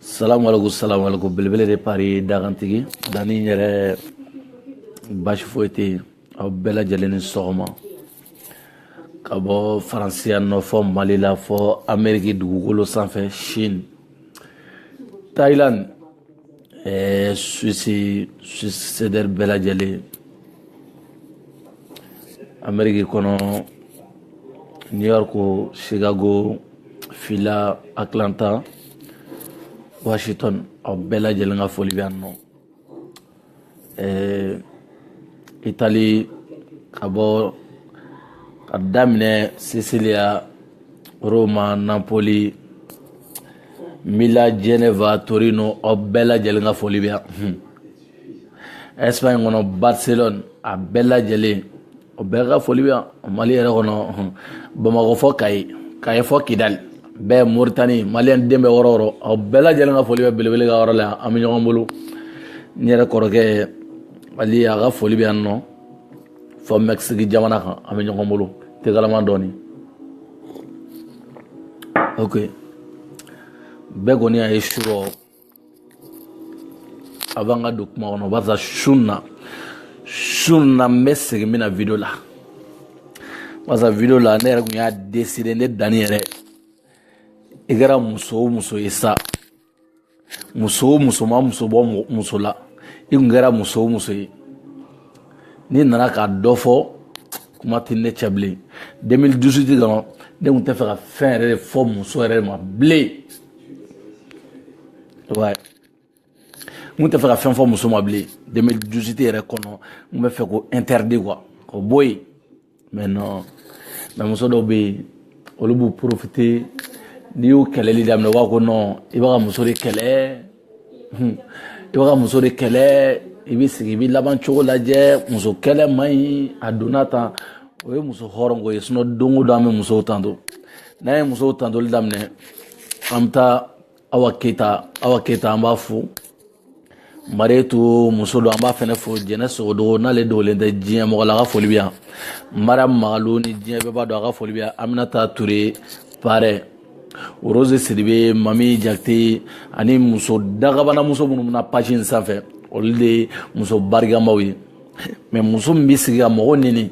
salamu alaikum salamu alaikum belebele de pari dagantigi dani yɛrɛ basi foyi tɛ yen aw bɛɛ lajɛlen ni sɔgɔma ka bɔ faransiya nɔ fɔ mali la fɔ ameriki dugukolo sanfɛ chine thailand Ee, suisi susedɛri bɛɛ lajɛlen ameriki kɔnɔ new york chicago phila atlanta washington aw bɛɛ lajɛlen ka foli bɛ yan nɔ ɛɛ itali ka bɔ ka daminɛ sisiliya Roma, Napoli, Milan, Geneva, Torino, aw bɛɛ lajɛlen ka foli bɛ yan. Hmm. Espagne kɔnɔ Barcelone a bɛɛ lajɛlen o bɛɛ ka foli bɛ yan Mali yɛrɛ kɔnɔ hmm. Bamakɔ fɔ Kayi Kayi fɔ Kidali bɛɛ Mauritanie Maliyɛn den bɛ yɔrɔ o yɔrɔ aw bɛɛ lajɛlen ka foli bɛ belebele ka yɔrɔ la yan an bɛ ɲɔgɔn bolo n yɛrɛ kɔrɔkɛ Ali a ka foli bɛ yan nɔ. fɔ mɛkisiki jamana kan an bɛ ɲɔgɔn bolo tegalama dɔɔni ok bɛɛ kɔni y'a ye surɔ avant ka don kuma kɔnɔ barisa su na su na n bɛ segin min na video la barisa video la ne yɛrɛ kun y'a deside ne dani yɛrɛ i kɛra muso o muso ye sa muso o muso ma muso bɔ muso la i kun kɛra muso o muso ye n'i nana ka dɔ fɔ kuma tɛ ne cɛ bilen 2018 kɔnɔ ne kun tɛ fɛ ka fɛn yɛrɛ de fɔ muso yɛrɛ ma bilen n kun tɛ fɛ ka fɛn fɔ muso ma bilen 2018 yɛrɛ kɔnɔ n bɛ fɛ k'o interdit quoi k'o bɔ yen mɛ nɔn mɛ muso dɔw bɛ yen olu b'u porofite n'i y'u kɛlɛli daminɛ u b'a ko nɔn i b'a ka muso de kɛlɛ i b'a ka muso de kɛlɛ i bɛ sigi i bɛ laban cogo lajɛ muso kɛlɛ man ɲi a donna tan o ye muso hɔrɔn ko ye sinɔn don o don an bɛ musow tanto n'an ye musow tantoli daminɛ an bɛ taa awa awa keyita an b'a fo mariyetu muso don an b'a fɛnɛ fo jɛnɛ sogodogo n'ale dogolen tɛ diɲɛ mɔgɔ la a ka foli bɛ yan mariyamu magalo ni diɲɛ bɛɛ b'a dɔn a ka foli bɛ yan aminata ture parɛ rose sidibe mami jakite ani muso dagabana muso minnu bɛna page in sanfɛ olu de ye muso barikamaw ye mɛ muso min bɛ sigi ka mɔgɔ neni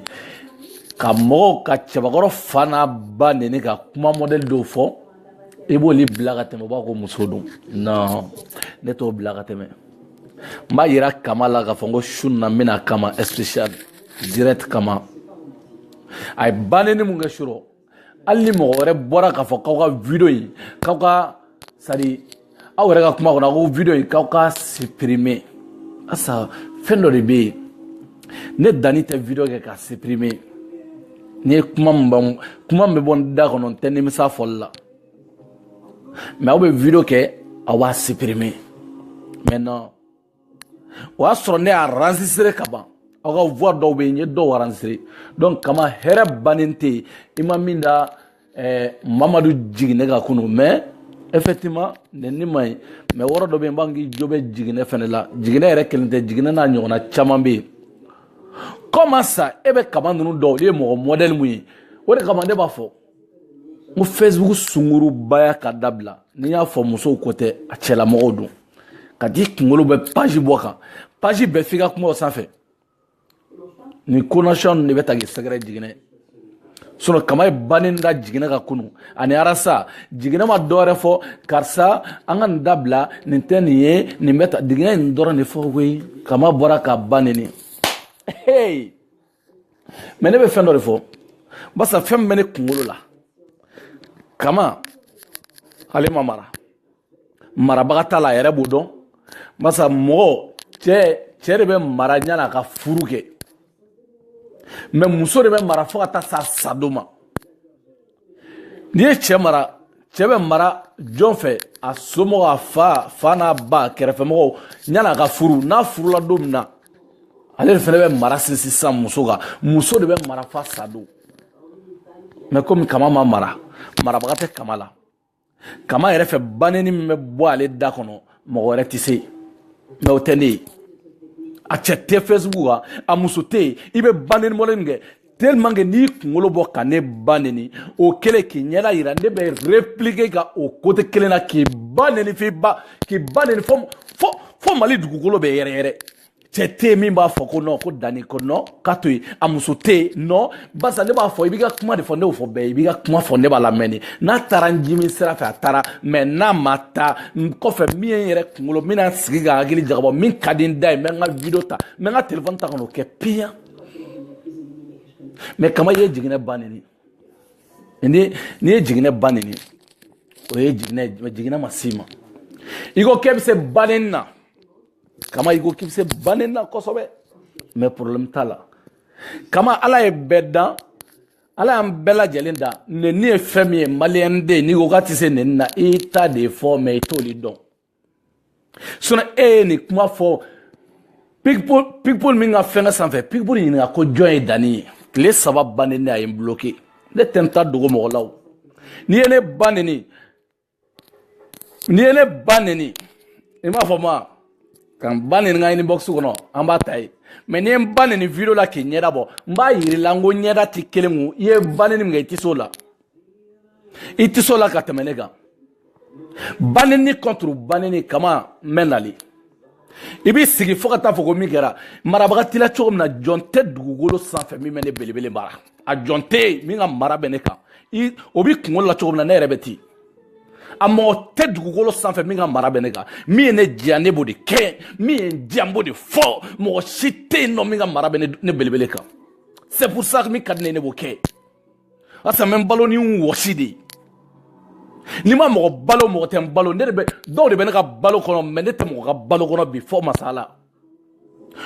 ka mɔgɔw ka cɛbakɔrɔ fa n'a ba neni ka kuma mɔdɛli dɔw fɔ i b'oli bila ka tɛmɛ u b'a ko muso don non ne t'o bila ka tɛmɛ n b'a yira kama la k'a fɔ n ko su na n bɛna kama spécial direct kama a ye baneni mun kɛ surɔ hali ni mɔgɔ wɛrɛ bɔra k'a fɔ k'aw ka video in k'aw ka sadi aw yɛrɛ ka kuma kɔnɔ ko video in k'aw ka supprimer asa fɛn dɔ de bɛ yen ne dani tɛ video kɛ k'a supprimer n'i ye kuma min b'an kuma min bɛ bɔ n da kɔnɔ n tɛ nimisa fɔli la mais aw bɛ video kɛ aw b'a supprimer maintenant o y'a sɔrɔ ne y'a enregistrer ka ban aw ka voix dɔw bɛ yen n ye dɔw enregistrer donc kama yɛrɛ baneni tɛ yen i ma min da eh, mamadu jiginɛ kan kunu mais effectivement nenni ma ɲi mais wɔrɔ dɔ bɛ yen n b'a k'i jo bɛ jiginɛ fɛnɛ la jiginɛ yɛrɛ kelen tɛ jiginɛ n'a ɲɔgɔnna caman bɛ yen comme ça e bɛ kama ninnu dɔn olu ye mɔgɔ mɔdɛli mun ye o de kama ne b'a fɔ n ko facebook sungurubaya ka dabila ni y'a fɔ musow ko tɛ a cɛlamɔgɔw don ka t'i kunkolo bɛ page bɔ kan page bɛɛ f'i ka kuma o sanfɛ nin konasiyɔn ninnu de bɛ ta k'i sɛgɛrɛ jiginɛ sinon kama ye baneni da jiginɛ kan kunu ani arasa jiginɛ ma dɔwɛrɛ fɔ karisa an ka nin dabila nin tɛ nin ye nin bɛ ta jiginɛ nin dɔrɔn de fɔ koyi kama bɔra k'a ba neni hey! mais ne bɛ fɛn dɔ de fɔ barisa fɛn min bɛ ne kunkolo la kama ale ma mara marabaga t'a la a yɛrɛ b'o dɔn barisa mɔgɔ cɛ cɛ de bɛ mara yan'a ka furu kɛ mais muso de bɛ mara fo ka taa s'a sadon ma n'i ye cɛ mara cɛ bɛ mara jɔn fɛ a somɔgɔ a fa n'a ba kɛrɛfɛmɔgɔw yan'a ka furu n'a furula don min na ale de fɛnɛ bɛ mara sinsin sisan muso kan muso de bɛ mara f'a sa don mais komi kama ma mara marabaga tɛ kama la kama yɛrɛ fɛ baneni min bɛ bɔ ale da kɔnɔ mɔgɔ wɛrɛ tɛ se mais o tɛ ne ye a cɛ tɛ facebook kan a muso tɛ yen i bɛ baneni bɔlen min kɛ tellement que n'i kunkolo bɔ ka ne ba neni o kɛlen k'i ɲɛda yira ne bɛ répliquer ka o côté kelen na k'i ba neni f'i ba k'i ba neni fo fo fo mali dugukolo bɛ yɛrɛ yɛrɛ cɛ tɛ yen min b'a fɔ ko non ko dani ko non k'a to yen a muso tɛ yen non barisa ne b'a fɔ i b'i ka kuma de fɔ ne y'o fɔ bɛɛ ye i b'i ka kuma fɔ ne b'a lamɛn de n'a taara n jimi sira fɛ a taara mais n'a ma taa n kɔfɛ min ye n yɛrɛ kunkolo n bɛna n sigi ka n hakili jagabɔ min ka di n da ye n bɛ n ka video ta n bɛ n ka telefɔni ta ka n'o kɛ piyan mais kama i ye jiginɛ ba neni ni n'i ye jiginɛ ba neni o ye jiginɛ jiginɛ ma s'i ma i ko k'e bɛ se baneni na kama i ko k'i bɛ se ba neni na kosɛbɛ mɛ porobilɛmu t'a la kama ala ye bɛɛ dan ala y'an bɛɛ lajɛlen dan neni ye fɛn min ye maliyɛn den n'i ko k'a tɛ se neni na i ta de ye fɔ mɛ i t'o de dɔn sinɔn e ye nin kuma fɔ pikipol min ka fɛngɛ sanfɛ pikipol ɲininka ko jɔn ye dani ye tile saba ba neni a ye n bloke ne tɛ n ta dogo mɔgɔ la o n'i ye ne ba neni n'i ye ne ba neni i m'a fɔ ma ka n ba neni n ka inbox kɔnɔ an b'a ta yen mɛ n'i ye n ba neni video la k'i ɲɛda bɔ n b'a yir'i la n ko ɲɛda t'i kelen kun i ye ba neni min kɛ i tɛ s'o la i tɛ s'o la ka tɛmɛ ne kan ba neni contre ba neni kama n bɛ nali i b'i sigi fo ka taa fɔ ko min kɛra marabaga t'i la cogo min na jɔn tɛ dugukolo sanfɛ min bɛ ne belebele mara a jɔn tɛ yen min ka mara bɛ ne kan o b'i kunkolo la cogo min na ne yɛrɛ bɛ ten a mɔgɔ tɛ dugukolo sanfɛ min ka mara bɛ ne kan min ye ne diya ne b'o de kɛ min ye n diya n b'o de fɔ mɔgɔ si tɛ yen nɔ min ka mara bɛ ne belebele kan c'est pour ça min ka di ne ye ne b'o kɛ barisa n bɛ n balo ni n wɔsi de ye ni n ma mɔgɔ balo mɔgɔ tɛ n balo ne de bɛ dɔw de bɛ ne ka balo kɔnɔ mɛ ne tɛ mɔgɔ ka balo kɔnɔ bi fo masa ala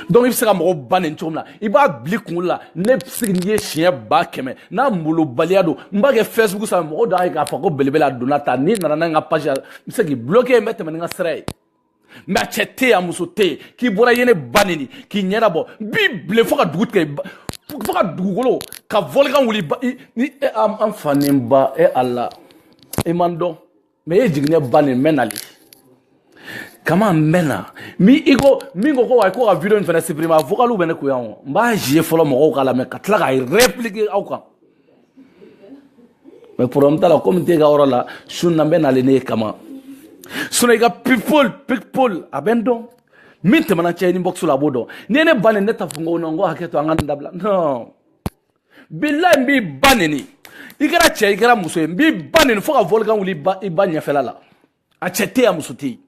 donc i bɛ se ka mɔgɔw ba neni cogo min na i b'a bil'i kunkolo la ne bɛ se n'i ye siɲɛ ba kɛmɛ n'a molobaliya don n b'a kɛ facebook sanfɛ mɔgɔw d'a ye k'a fɔ ko belebele a donna ta n'i nana n'a ye n ka page la n bɛ se k'i bloquer n bɛ tɛmɛ ni n ka sira ye mɛ a cɛ tɛ yen a muso tɛ yen k'i bɔra i ye ne ba neni k'i ɲɛda bɔ n b'i bilen fo ka dugu tigɛ fo ka dugukolo ka vɔlikan wuli ni e an fa ni n ba e ala i ma n dɔn mɛ e jiginɛ ba neni n bɛ nali kama n bɛ na min i ko min ko ko wa ko ka video in fana supprimer a vocaliw bɛ ne kun yan o n b'a jouer fɔlɔ mɔgɔw k'a lamɛn ka tila ka repliquer aw kan mɛ poroblɛmu t'a la komi n tɛ n ka yɔrɔ la su na n bɛ nali ne kama sinɔn i ka people people a bɛ n dɔn min tɛmɛna an cɛ inbox la a b'o dɔn n'i ye ne ba neni ne t'a fɔ n ko non n ko hakɛ to an ka nin dabila non bilayi n b'i ba neni i kɛra cɛ i kɛra muso ye n b'i ba neni fo ka volcan wuli i ba ɲɛfɛla la a cɛ tɛ yen a muso tɛ yen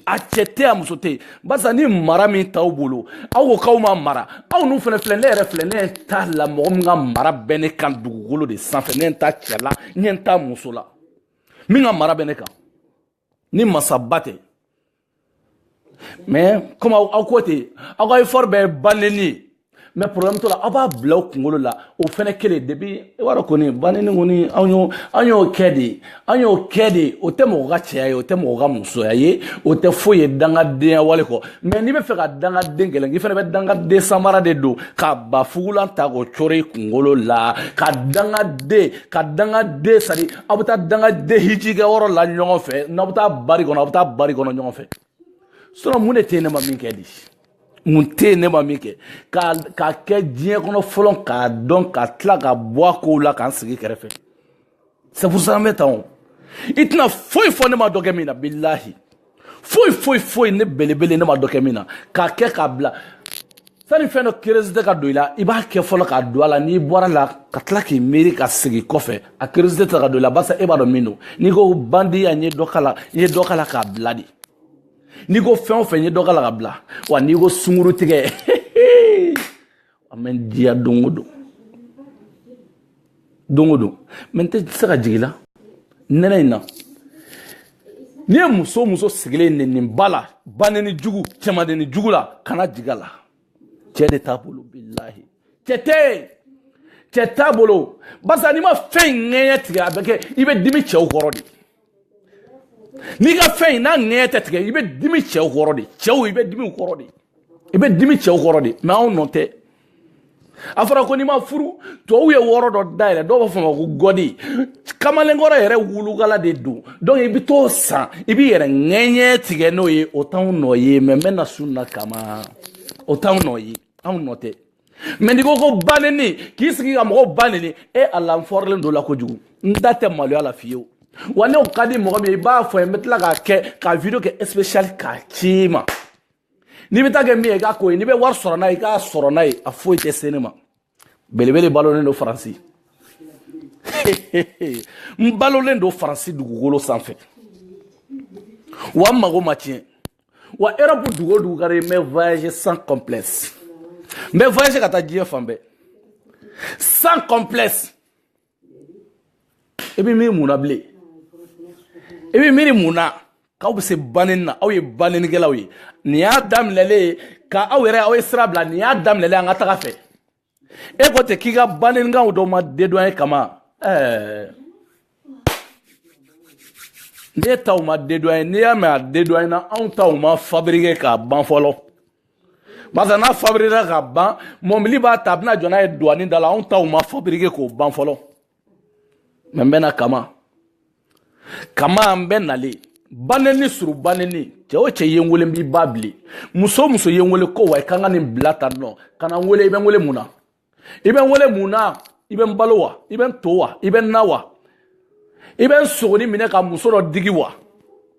a cɛ tɛ yen a muso tɛ yen barisa ni mara min t'aw bolo aw ko k'aw ma mara aw n'u fana filɛ ne yɛrɛ filɛ ne ɲɛ t'a la mɔgɔ min ka mara bɛ ne kan dugukolo de sanfɛ ne ɲɛ t'a cɛ la ne ɲɛ t'a muso la min ka mara bɛ ne kan ni masaba tɛ mais comme aw ko ten aw ka effort bɛɛ banenni mais problème t'o la aw b'a bila aw kunkolo la o fɛnɛ kelen depuis i b'a dɔn kɔni banenni kɔni anw y'o anw y'o kɛ de anw y'o kɛ de o tɛ mɔgɔ ka cɛya ye o tɛ mɔgɔ ka musoya ye o tɛ foyi ye dangadenya wale kɔ mais n'i bɛ fɛ ka dangaden gɛlɛn k'i fɛnɛ bɛ dangaden samara de don ka bafugulan ta k'o cori i kunkolo la ka dangaden ka dangaden sadi aw bɛ taa dangaden hiji kɛ yɔrɔ la ɲɔgɔn fɛ n'aw bɛ taa bari kɔnɔ aw bɛ taa bari kɔnɔ ɲɔgɔn fɛ sinon mun de tɛ yen ne ma min kɛ de mun tɛ yen ne ma min kɛ k'a kɛ diɲɛ kɔnɔ fɔlɔ k'a dɔn ka tila ka bɔ a kow la ka n sigi kɛrɛfɛ c'est pour ça an bɛ tan o i tɛna foyi fɔ ne ma dɔ kɛ min na bilahi foyi foyi foyi ne belebele ne ma dɔ kɛ min na k'a kɛ k'a bila sani fɛn dɔ curiosité ka don i la i b'a kɛ fɔlɔ k'a dɔn a la n'i bɔra la ka tila k'i miiri ka segin kɔfɛ a curiosité tɛ ka don i la barisa e b'a dɔn min don n'i ko bandiya n ye dɔ k'a la n ye dɔ k'a la k'a bila de n'i ko fɛn o fɛn n ye dɔ k'a la ka bila wa n'i ko sungurutigɛ a bɛ n diya don o don don o don mais n tɛ se ka jigin la nɛnɛ in na n'i ye muso muso sigilen neniniba la baneni jugu cɛmaneni jugu la kana jigin a la cɛ de t'a bolo bilahi cɛ tɛ yen cɛ t'a bolo barisa n'i ma fɛn in ŋɛɲɛ tigɛ a bɛ kɛ i bɛ dimi cɛw kɔrɔ de n'i ka fɛn in n'a ŋɛɲɛ tɛ tigɛ i bɛ dimi cɛw kɔrɔ de cɛw i bɛ dimi kɔrɔ de i bɛ dimi cɛw kɔrɔ de mais anw nɔ tɛ a fɔra ko n'i ma furu tubabuw ye yɔrɔ dɔ dayɛlɛ dɔw b'a fɔ ma ko gode kamalenkɔrɔ yɛrɛ wulukala de don donc i bɛ t'o san i b'i yɛrɛ ŋɛɲɛ tigɛ n'o ye o t'anw nɔ ye mais n bɛ na sun na kama o t'anw nɔ ye anw nɔ tɛ mais n'i ko ko baneni k'i sigi ka mɔgɔw baneni e ala n fɔrilen don la kojugu n da tɛ maloya la fiyewu wa n'o ka di mɔgɔ min ye i b'a fɔ ye n bɛ tila k'a kɛ ka video kɛ spécial k'a ci ma n'i bɛ taa kɛ min ye i k'a ko ye n'i bɛ wari sɔrɔ n'a ye i k'a sɔrɔ n'a ye a foyi tɛ se ne ma belebele balolen don faransi n balolen don faransi dugukolo sanfɛ wa n mago ma tiɲɛ wa europe dugu o dugu ka di n bɛ voyager sans complexe n bɛ voyager ka taa diɲɛ fan bɛɛ sans complexe i bɛ miiri mun na bilen i bɛ miiri mun na k'aw bɛ se baneni na aw ye banenikɛlaw ye nin y'a daminɛlen ye ka aw yɛrɛ aw ye sira bila nin y'a daminɛlen an ka taga fɛ e ko ten k'i ka banenikanw dɔ ma dédouané kama ɛɛ ne taw ma dédouané n'i y'a mɛn a dédouané na anw taw ma fabrike k'a ban fɔlɔ barisa n'a fabrikera ka ban mɔbili b'a ta a bɛna jɔ n'a ye duwani da la anw taw ma fabrike k'o ban fɔlɔ mais n bɛna kama kama n bɛ nalen baneni sur baneni cɛ o cɛ ye n wele n b'i ba bile muso o muso ye n wele ko wa i ka n ka nin bila tan nɔ ka na n wele i bɛ n wele mun na i bɛ n wele mun na i bɛ n balo wa i bɛ n to wa i bɛ n na wa i bɛ n sogoni minɛ ka muso dɔ digi wa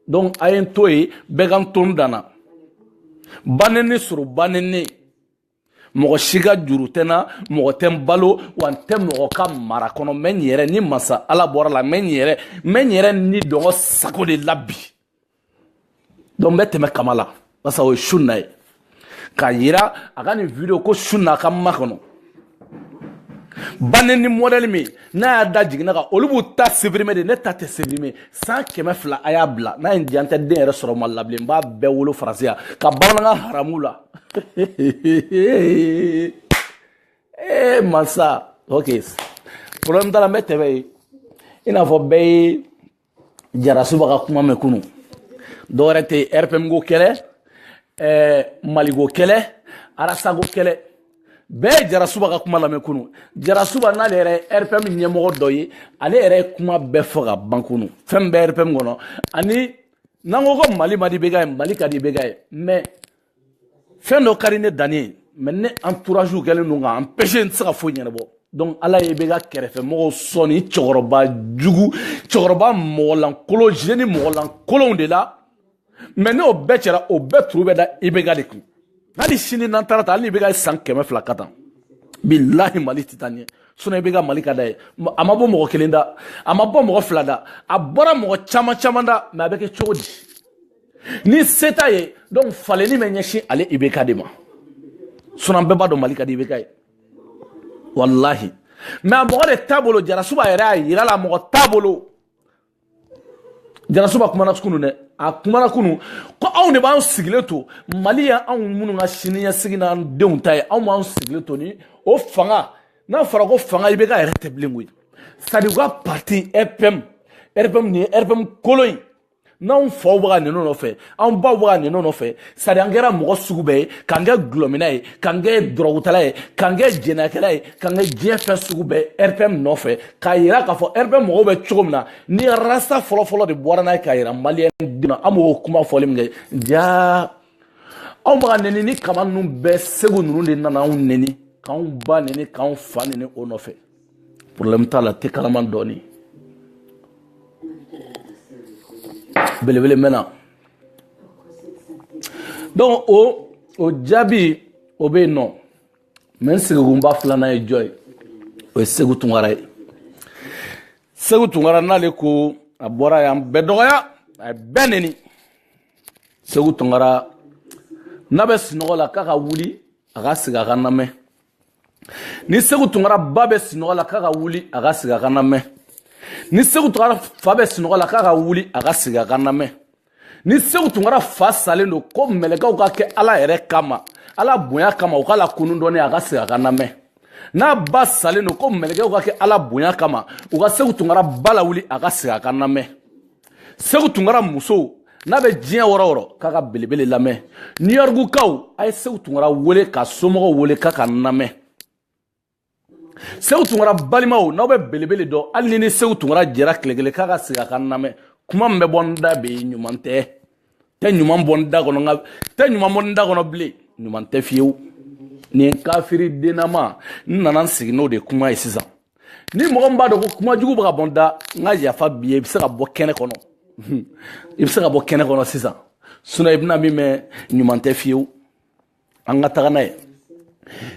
donc a ye n to yen bɛɛ ka n to n danna baneni sur baneni mɔgɔ si ka juru tɛ n na mɔgɔ tɛ n balo wa n tɛ mɔgɔ ka mara kɔnɔ n bɛ n yɛrɛ ni masa ala bɔra la n bɛ n yɛrɛ n bɛ n yɛrɛ ni dungɔ sago de la bi donc n bɛ tɛmɛ kama la parce que o ye su na ye k'a yira a ka nin video ko su na a ka ma kɔnɔ banni ni modèle min n'a y'a da jiginna kan olu b'u ta supprimer de ne ta tɛ supprimer san kɛmɛ fila a y'a bila n'a ye n diya n tɛ den yɛrɛ sɔrɔ mali la bilen n b'a bɛɛ wolo faransi yan ka bamanankan haramu la ee eh, masa ok problème t'a la n bɛ tɛmɛ yen i n'a fɔ bɛɛ ye jarasuba ka kuma mɛn kunu dɔwɛrɛ tɛ rpm ko kɛlɛ eh, mali ko kɛlɛ rasta ko kɛlɛ bɛɛ ye jarasuba ka kuma lamɛn kunu jarasuba n'ale yɛrɛ ye rpm ɲɛmɔgɔ dɔ ye ale yɛrɛ ye kuma bɛɛ fɔ ka ban kunu fɛn min bɛ rpm kɔnɔ ani n'an ko ko mali man di ibk ye mali ka di ibk ye mais fɛn dɔ ka di ne danni ye mais ne entourage kɛlen don ka n empêcher n tɛ se ka foyi ɲɛnabɔ donc ala ye ibk kɛrɛfɛ mɔgɔw sɔn ni cɛkɔrɔba jugu cɛkɔrɔba mɔgɔlankolon jeune mɔgɔlankolonw de la mais n'o bɛɛ cɛra o bɛɛ turu bɛ da ibk de kun hali sini n'an taara ta hali ibk ye san kɛmɛ fila kɛ tan bilahi mali tɛ taa ɲɛ sinon ibk mali ka d'a ye a ma bɔ mɔgɔ kelen da a ma bɔ mɔgɔ fila da a bɔra mɔgɔ caman caman da mais a bɛ kɛ cogo di ni se t'a ye donc falenni bɛ ɲɛsin ale ibk de ma sinon an bɛɛ b'a dɔn mali ka di ibk ye walahi mais a mɔgɔ de t'a bolo jarasuba yɛrɛ y'a yira la mɔgɔ t'a bolo jarasuba kumana kunu dɛ a kumana kunu ko anw de b'an sigilen to mali yan anw minnu ka siniɲɛsigi n'an denw ta ye anw b'an sigilen to ni o fanga n'a fɔra ko fanga ibk yɛrɛ tɛ bilen koyi c'est à dire u ka parti rpm rpm nin ye rpm kolon ye n'anw faw bɛ ka nɛni nɔfɛ anw baw bɛ ka nɛni nɔfɛ c'est à dire an kɛra mɔgɔ sugu bɛɛ ye k'an kɛ dɔlɔminna ye k'an kɛ dɔrɔgutala ye k'an kɛ jɛnɛyakɛla ye k'an kɛ diɲɛ fɛn sugu bɛɛ rpm nɔfɛ k'a yira k'a fɔ rpm mɔgɔw bɛ cogo min na ni rasta fɔlɔfɔlɔ de bɔra n'a ye k'a yira maliyɛn denw na an b'o kuma fɔli min kɛ jaa anw bɛ ka nɛni nin kama ninnu bɛɛ segu ninnu de nana anw nɛni k'anw ba nɛni k'anw fa nɛni o nɔfɛ problème t'a la te kalaman dɔɔni belebele mɛna donc o o jaabi o bɛ yen nɔ mais n sigikunba filanan ye jɔn ye o ye segu tunkara ye segu tunkara n'ale ko a bɔra a y'an bɛɛ dɔgɔya a ye bɛɛ neni segu tunkara n'a bɛ sunɔgɔ la k'a ka wuli a ka sigi a ka n lamɛn ni segu tunkara ba bɛ sinɔgɔ la k'a ka wuli a ka sigi a ka namɛn ni segu tunkara fa bɛ sinɔgɔ la k'a ka wuli a ka sigi a ka namɛn ni segu tunkara fa salen don ko mɛlɛkɛw ka kɛ ala yɛrɛ kama ala bonya kama u k'a lakunu dɔɔni a ka sigi a ka namɛn n'a ba salen don ko mɛlɛkɛw ka kɛ ala bonya kama u ka segu tunkara ba lawuli a ka sigi a ka namɛn segu tunkara musow n'a bɛ diɲɛ yɔrɔ o yɔrɔ k'a ka belebele lamɛn new yorkukaw a ye segu tunkara wele k'a somɔgɔw wele k'a ka namɛn segu tunkara balimaw n'aw bɛ belebele dɔn hali n'i ni segu tunkara jɛra tile kelen k'a ka sigi a ka namɛn kuma min bɛ bɔ n da bi ɲuman tɛ tɛ ɲuman bɔ n da kɔnɔ nka tɛ ɲuman bɔ n da kɔnɔ bilen ɲuman tɛ fiyewu nin kafiri dennama n nana n sigi n'o de kuma ye sisan ni mɔgɔ min b'a dɔn ko kuma jugu bɛ ka bɔ n da n ka yafa b'i ye i bɛ se ka bɔ kɛnɛ kɔnɔ i bɛ se ka bɔ kɛnɛ kɔnɔ sisan sinon i bɛna min mɛn ɲuman tɛ fiyewu an ka taga n'a ye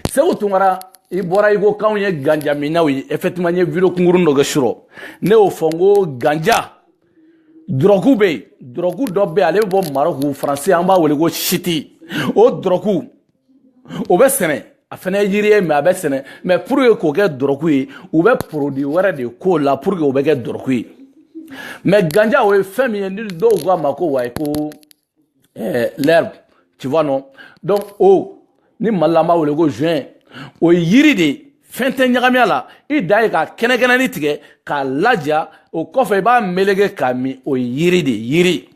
segu tunkara i bɔra i ko k'anw ye ganjaminnaw ye effectivement n ye video kunkurun dɔ kɛ surɔ ne y'o fɔ n ko ganja dɔrɔku bɛ yen dɔrɔku dɔ bɛ yen ale bɛ bɔ marɔku faransi an b'a wele ko shit o dɔrɔku o bɛ sɛnɛ a fana ye yiri ye mais a bɛ sɛnɛ mais pour que k'o kɛ dɔrɔku ye u bɛ produit wɛrɛ de k'o la pour que o bɛ kɛ dɔrɔku ye mais ganja o ye fɛn min ye ni dɔw k'a ma ko wayi ko eh, l'herbe tu vois non donc o oh, ni mali la an b'a wele ko joint o ye yiri de ye fɛn tɛ ɲagami a la i dan ye k'a kɛnɛkɛnɛni tigɛ k'a laja o kɔfɛ i b'a melege k'a min o ye yiri de ye yiri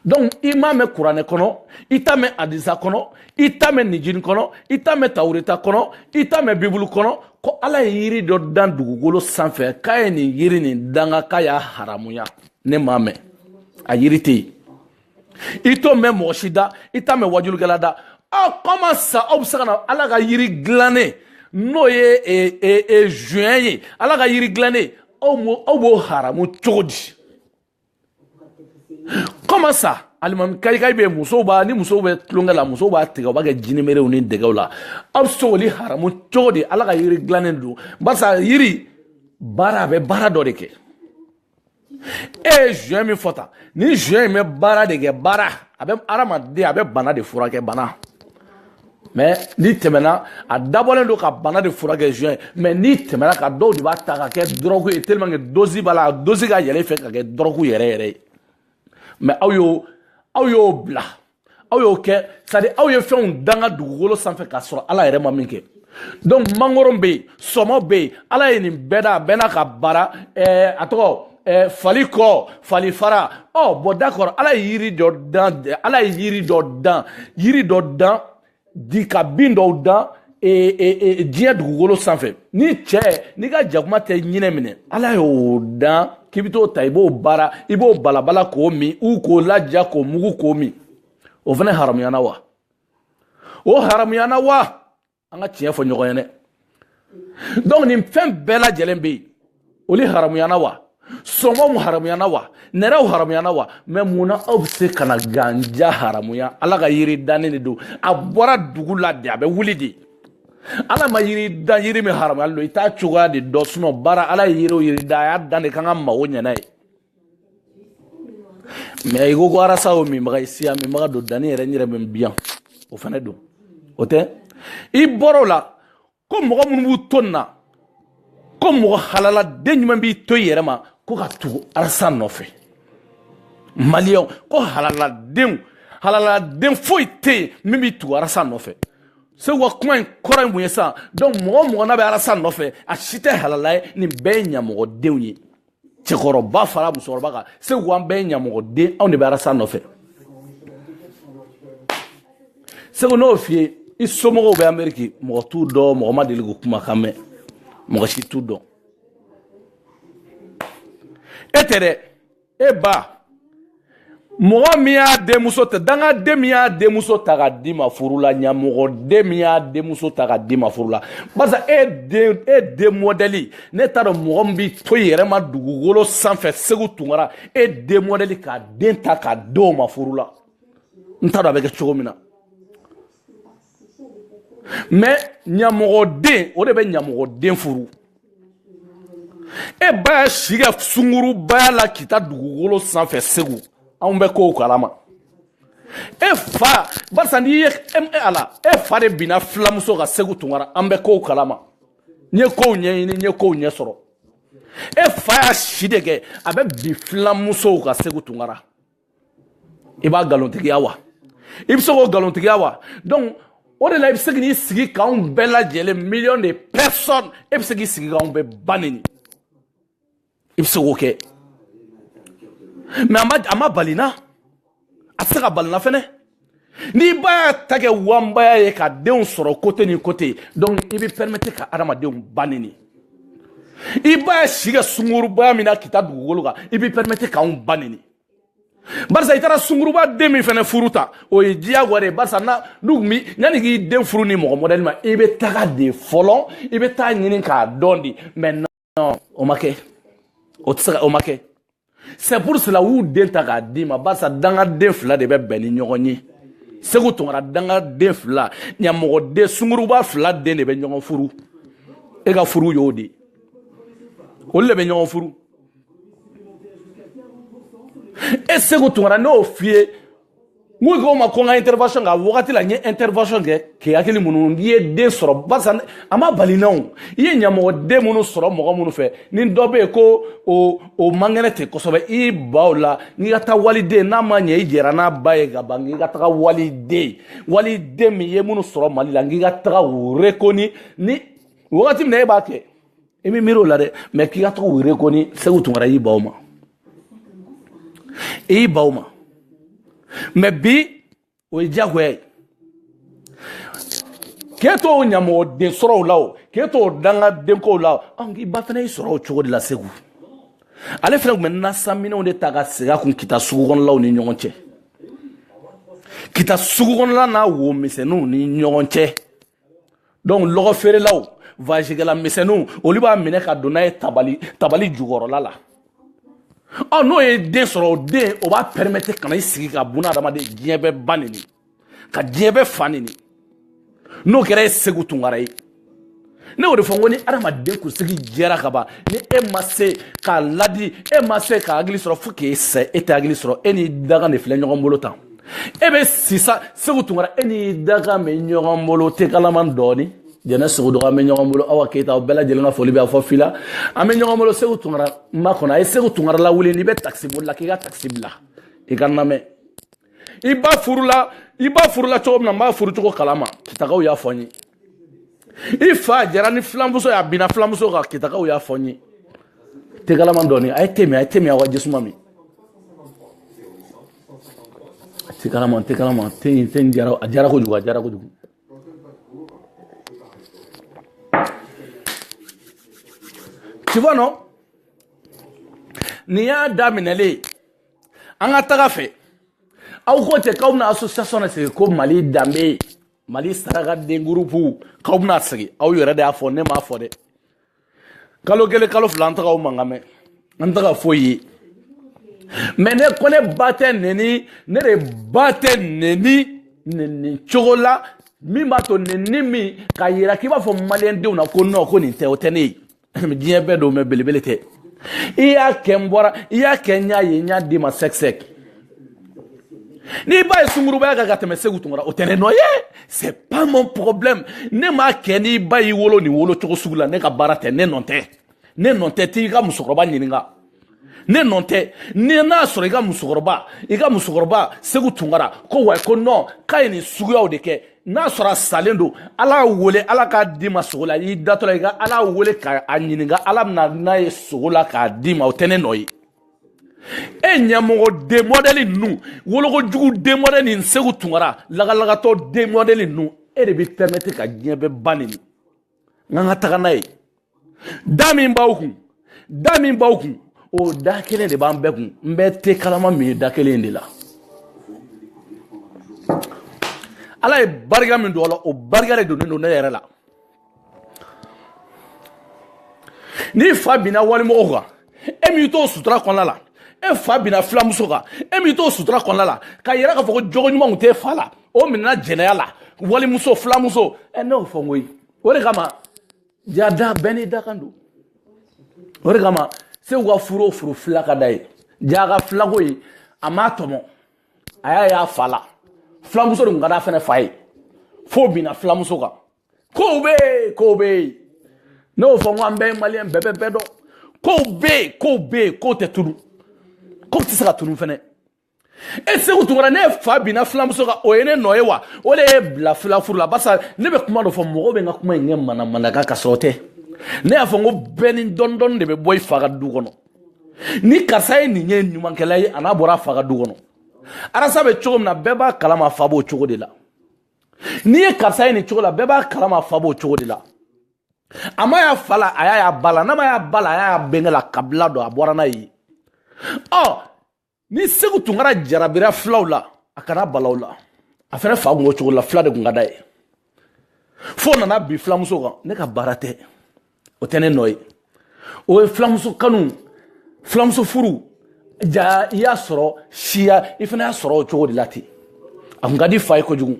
donc i m'a mɛn kuranɛ kɔnɔ i t'a mɛn adisa kɔnɔ i t'a mɛn nijini kɔnɔ i t'a mɛn tawureta kɔnɔ i t'a mɛn bibulu kɔnɔ ko ala ye yiri dɔ dan dugukolo sanfɛ k'a ye nin yiri nin danga k'a y'a haramuya ne m'a mɛn a yiri tɛ yen i t'o mɛn mɔgɔ si da i t'a mɛn wajulikɛla da aw comment ça aw bɛ se ka na ala ka yiri dilannen n'o ye e, e, e, joint ye ala ka yiri dilannen aw mo aw b'o haramu cogo di comment ça alimukayikayi bɛ musow b'a ni musow bɛ tulonkɛ la musow b'a tigɛ u b'a kɛ jinimerew ni dɛgɛw la aw bɛ se k'olu haramu cogo di ala ka yiri dilannen don barisa yiri baara a bɛ baara dɔ de kɛ e ye joint min fɔ tan ni joint in bɛ baara de kɛ baara a bɛ hadamaden a bɛ bana de furakɛ bana mais n'i tɛmɛna a dabɔlen don ka bana de furakɛ joint mais n'i tɛmɛna ka dɔw de b'a ta ka kɛ dɔrɔgu ye tellement que dose b'a la a dose ka yɛlɛ fɛ ka kɛ dɔrɔgu yɛrɛ yɛrɛ ye mais aw y'o aw y'o bila aw y'o kɛ c'est-à-dire aw ye fɛnw danga dugukolo sanfɛ k'a sɔrɔ ala yɛrɛ ma min kɛ donc mangoro bɛ yen sɔmɔ bɛ yen ala ye nin bɛɛ dan a bɛɛ n'a ka baara ɛɛ a tɔgɔ ɛɛ fali kɔ fali fara ɔ bon d'accord ala ye yiri dɔ dan ala ye yiri dɔ dan yiri dɔ dan di ka bin dɔw dan e, e, e, diɲɛ dugukolo sanfɛ ni cɛ n'i ka jakuma tɛ ɲinɛ minɛ ala y'o dan k'i bɛ t'o ta i b'o baara i b'o balabala k'o min ou k'o laja k'o mugu k'o min o fana haramuyana wa o haramuyana wa an ka tiɲɛ fɔ ɲɔgɔn ye dɛ donc nin fɛn bɛɛ lajɛlen bɛ yen olu haramuyana wa sɔngɔ mu haramuyana wa nɛrɛw haramuyana wa mɛ mun na aw bɛ se ka na ganja haramuya ala ka yiri dannen de don a bɔra dugu la de a bɛ wuli de ala ma yiri dan yiri min haramuyalen don i t'a cogoya de dɔn sinɔn baara ala ye yiri o yiri dan a y'a dan de k'an ka mago ɲɛ n'a ye mɛ i ko ko arasa o minbaga ye sira minbaga don danni yɛrɛ n yɛrɛ bɛ n biyan o fana don o tɛ i bɔr'o la ko mɔgɔ minnu b'u to nin na ko mɔgɔ halaladen ɲuman b'i to i yɛrɛ ma ko ka tugu arasa nɔfɛ maliyɛnw ko halaladenw halaladen foyi tɛ yen min b'i tugu arasa nɔfɛ seku ka kuma in kɔrɔ ye mun ye sisan donc mɔgɔ mɔgɔ n'a bɛ arasa nɔfɛ a si tɛ halala ye nin bɛɛ ye ɲamɔgɔdenw ye cɛkɔrɔba fara musokɔrɔba kan seku an bɛɛ ɲamɔgɔden anw de bɛ arasa nɔfɛ seku n'o f'i ye i somɔgɔw bɛ ameriki mɔgɔ t'u dɔn mɔgɔ ma deli k'u kumakan mɛn mɔgɔ si t'u dɔn e tɛ dɛ e ba mɔgɔ min y'a denmuso ta dangaden min y'a denmuso ta k'a d'i ma furu la ɲamɔgɔden min y'a denmuso ta k'a d'i ma furu la barisa e den mɔdɛli ne t'a dɔn mɔgɔ min b'i to i yɛrɛ ma dugukolo sanfɛ seku tunkara e den mɔdɛli k'a den ta k'a d'o ma furu la n t'a dɔn a bɛ kɛ cogo min na mɛ ɲamɔgɔden o de bɛ ɲamɔgɔden furu e ba y'a si kɛ sungurubaya la k'i ta dugukolo sanfɛ seku anw bɛ kow kalama e fa barisa n'i ye e ala e fa de binna filamusow kan seku tunkara an bɛ kow kalama n ye kow ɲɛɲini n ye kow ɲɛ sɔrɔ e fa y'a si de kɛ a bɛ bin filamusow kan seku tunkara i b'a nkalontigiya wa i bɛ se k'o nkalontigiya wa donc o de la i bɛ se k'i sigi k'anw bɛɛ lajɛlen miliyɔn de personne e bɛ se k'i sigi k'anw bɛɛ ba neni i bɛ se k'o kɛ mɛ a ma a ma bala n na a tɛ se ka bala n na fɛnɛ n'i ba y'a ta kɛ wanbaya ye ka denw sɔrɔ kote ni kote donc i bɛ pɛrimete ka adamadenw ba neni i ba y'a si kɛ sungurubaya min na k'i ta dugukolo kan i bɛ pɛrimete k'anw ba neni barisa i taara sunguruba den min fɛnɛ furu ta o ye diyagoya de ye barisa na n'u tun bi yanni k'i den furu ni mɔgɔ modèle ma i bɛ taga de fɔlɔ i bɛ taa ɲini k'a dɔn de mais non o ma kɛ o tɛ se ka o ma kɛ c'est pour cela u y'u den ta k'a d'i ma barisa dangaden fila de bɛ bɛn ni ɲɔgɔn ye segu tunkara dangaden fila ɲamɔgɔden sunguruba fila den de bɛ ɲɔgɔn furu e ka furu y'o de ye olu de bɛ ɲɔgɔn furu e segu tunkara ne y'o f'i ye n ko ko ma ko n ka intervention kɛ a wagati la n ye intervention kɛ k'i hakili minnu i ye den sɔrɔ barisa a ma bali na o i ye ɲamɔgɔden minnu sɔrɔ mɔgɔ minnu fɛ ni dɔ bɛ yen ko o o man kɛnɛ ten kosɛbɛ i baw la k'i ka taa waliden n'a ma ɲɛ i jɛra n'a ba ye ka ban k'i ka taga waliden waliden min ye minnu sɔrɔ mali la n k'i ka taga o rekoni ni wagati min na e b'a kɛ i bɛ miiri o la dɛ mais k'i ka taa o rekoni segu tunkara y'i baw ma i y'i baw ma mais bi o ye diyagoya ye k'e t'o ɲamɔgɔden sɔrɔ o la o k'e t'o dangadenko la an k'i ba fana y'i sɔrɔ o cogo de la segu ale fana tun bɛ nasaminɛw de ta ka segin a kun kita sugu kɔnɔlaw ni ɲɔgɔn cɛ kita sugu kɔnɔla n'a wo misɛnninw ni ɲɔgɔn cɛ donc lɔgɔ feerelaw vazigɛla misɛnninw olu b'a minɛ ka don n'a ye tabali tabali jukɔrɔla la ɔ n'o ye den sɔrɔ o den o b'a permettre ka na i sigi ka buna adamaden diɲɛ bɛɛ ba neni ka diɲɛ bɛɛ fa neni n'o kɛra e segu tunkara ye ne y'o de fɔ n ko ni adamaden kunsigi jɛra ka ban ni e ma se k'a ladi e ma se ka hakili sɔrɔ fo k'e sa e tɛ hakili sɔrɔ e ni daga de filɛ ɲɔgɔn bolo tan e bɛ sisan segu tunkara e ni daga bɛ ɲɔgɔn bolo te kalaman dɔɔnin jɛnɛ sogo dɔgɔ an bɛ ɲɔgɔn bolo awa keyita aw bɛɛ lajɛlen ka foli bɛ aw fɔ fila an bɛ ɲɔgɔn bolo segu tunkara makɔnɔ a ye segu tunkara lawuli n'i bɛ takisi boli la k'i ka takisi bila i ka namɛn i ba furula i ba furula cogo min na n b'a furu cogo kalama kitagaw y'a fɔ n ye i fa jɛra ni filamuso ye a binna filamuso kan kitagaw y'a fɔ n ye te kalaman dɔɔni a ye te min a ye te min aw ka jisuma min te kalaman te kalaman te in te in diyara a diyara kojugu a diyara kojugu. tu vois non nin y'a daminɛlen an ka taga fɛ aw ko tɛ k'aw bɛna association de sigi ko mali danbe mali sarakaden groupe k'aw bɛna sigi aw yɛrɛ de y'a fɔ ne m'a fɔ dɛ kalo kelen kalo fila an tɛ k'aw mankan mɛn an tɛ ka foyi ye mais ne ko ne ba tɛ neni ne de ba tɛ neni neni cogo la min b'a to neni min k'a yira k'i b'a fɔ maliyɛndenw na ko non ko nin tɛ o tɛ ne ye diɲɛ bɛɛ don mais belebele tɛ i y'a kɛ n bɔra i y'a kɛ n y'a ye n y'a d'i ma sɛkisɛki n'i ba ye sungurubaya kɛ ka tɛmɛ segu tunkara o tɛ ne nɔ ye c'est pas mon problème ne m'a kɛ n'i ba y'i wolo nin wolo cogo sugu la ne ka baara tɛ ne nɔ tɛ ne nɔ tɛ t'i ka musokɔrɔba ɲininka ne nɔ tɛ ni n'a sɔrɔ i ka musokɔrɔba i ka musokɔrɔba segu tunkara ko wa ko non k'a ye nin suguyaw de kɛ n'a sɔrɔ a salen don ala wele ala k'a d'i ma sugo la i datɔ la i ka ala wele k'a ɲininka ala bɛna n'a ye sugo la k'a d'i ma o tɛ ne nɔ ye e ɲɛmɔgɔ den modɛli ninnu wolokojugu den modɛli nin segu tunkara lagalagatɔ den modɛli ninnu e de bɛ pɛmɛti ka diɲɛ bɛɛ ba neni n ka n ka taga n'a ye da min b'aw kun da min b'aw kun o da kelen de b'an bɛɛ kun n bɛ te kalama min ye da kelen de la ala ye barika min don a la o barika de donnen don ne yɛrɛ la n'i fa binna walimɔgɔw kan e m'i t'o sutura kɔnɔna la e fa binna filamuso kan e m'i t'o sutura kɔnɔna la k'a yira k'a fɔ ko jogo ɲuman tun t'e fa la o minɛna jɛnɛya la walimuso filamuso ɛ ne y'o fɔ n ko ye o de kama ja da bɛɛ n'i dakan don o de kama segu ka furu o furu fila ka d'a ye ja ka filako ye a m'a tɔmɔ a y'a y'a fa la filamuso de tun ka d'a fana fa ye fo binna filamuso kan kow bɛ yen kow bɛ yen ne y'o fɔ n ko an bɛɛ ye maliyɛn bɛɛ bɛ bɛɛ dɔn kow bɛ yen kow bɛ yen kow tɛ tunu kow tɛ se ka tunu fɛnɛ e segu tunkara n'e fa binna filamuso kan o ye ne nɔ ye wa o de y'i bila filafuru la barisa ne bɛ kuma dɔ fɔ mɔgɔw bɛ n ka kuma in kɛ manamanakan ka sɔrɔ o tɛ ne y'a fɔ n ko bɛɛ ni dɔɔni dɔɔni de bɛ bɔ i fa ka du kɔnɔ ni karisa ye nin ye ɲumankɛla ye a n'a bɔra a fa ka du kɔnɔ arasi bɛ cogo min na bɛɛ b'a kalama a fa b'o cogo de la n'i ye karisa ye nin cogo la bɛɛ b'a kalama fa b'o cogo de la a ma y'a fa la a y'a y'a ba la n'a ma y'a ba la a y'a y'a bɛnkɛ la kabila don a bɔra n'a ye ɔ ni segu tunkara jarabira filaw la a kana bala aw la a fɛnɛ fa kun b'o cogo la fila de kun ka d'a ye fo nana bin filamuso kan ne ka baara tɛ o tɛ ne nɔ ye o ye filamuso kanu filamuso furu ja i y'a sɔrɔ siya i fana y'a sɔrɔ o cogo de la ten a kun ka d'i fa ye kojugu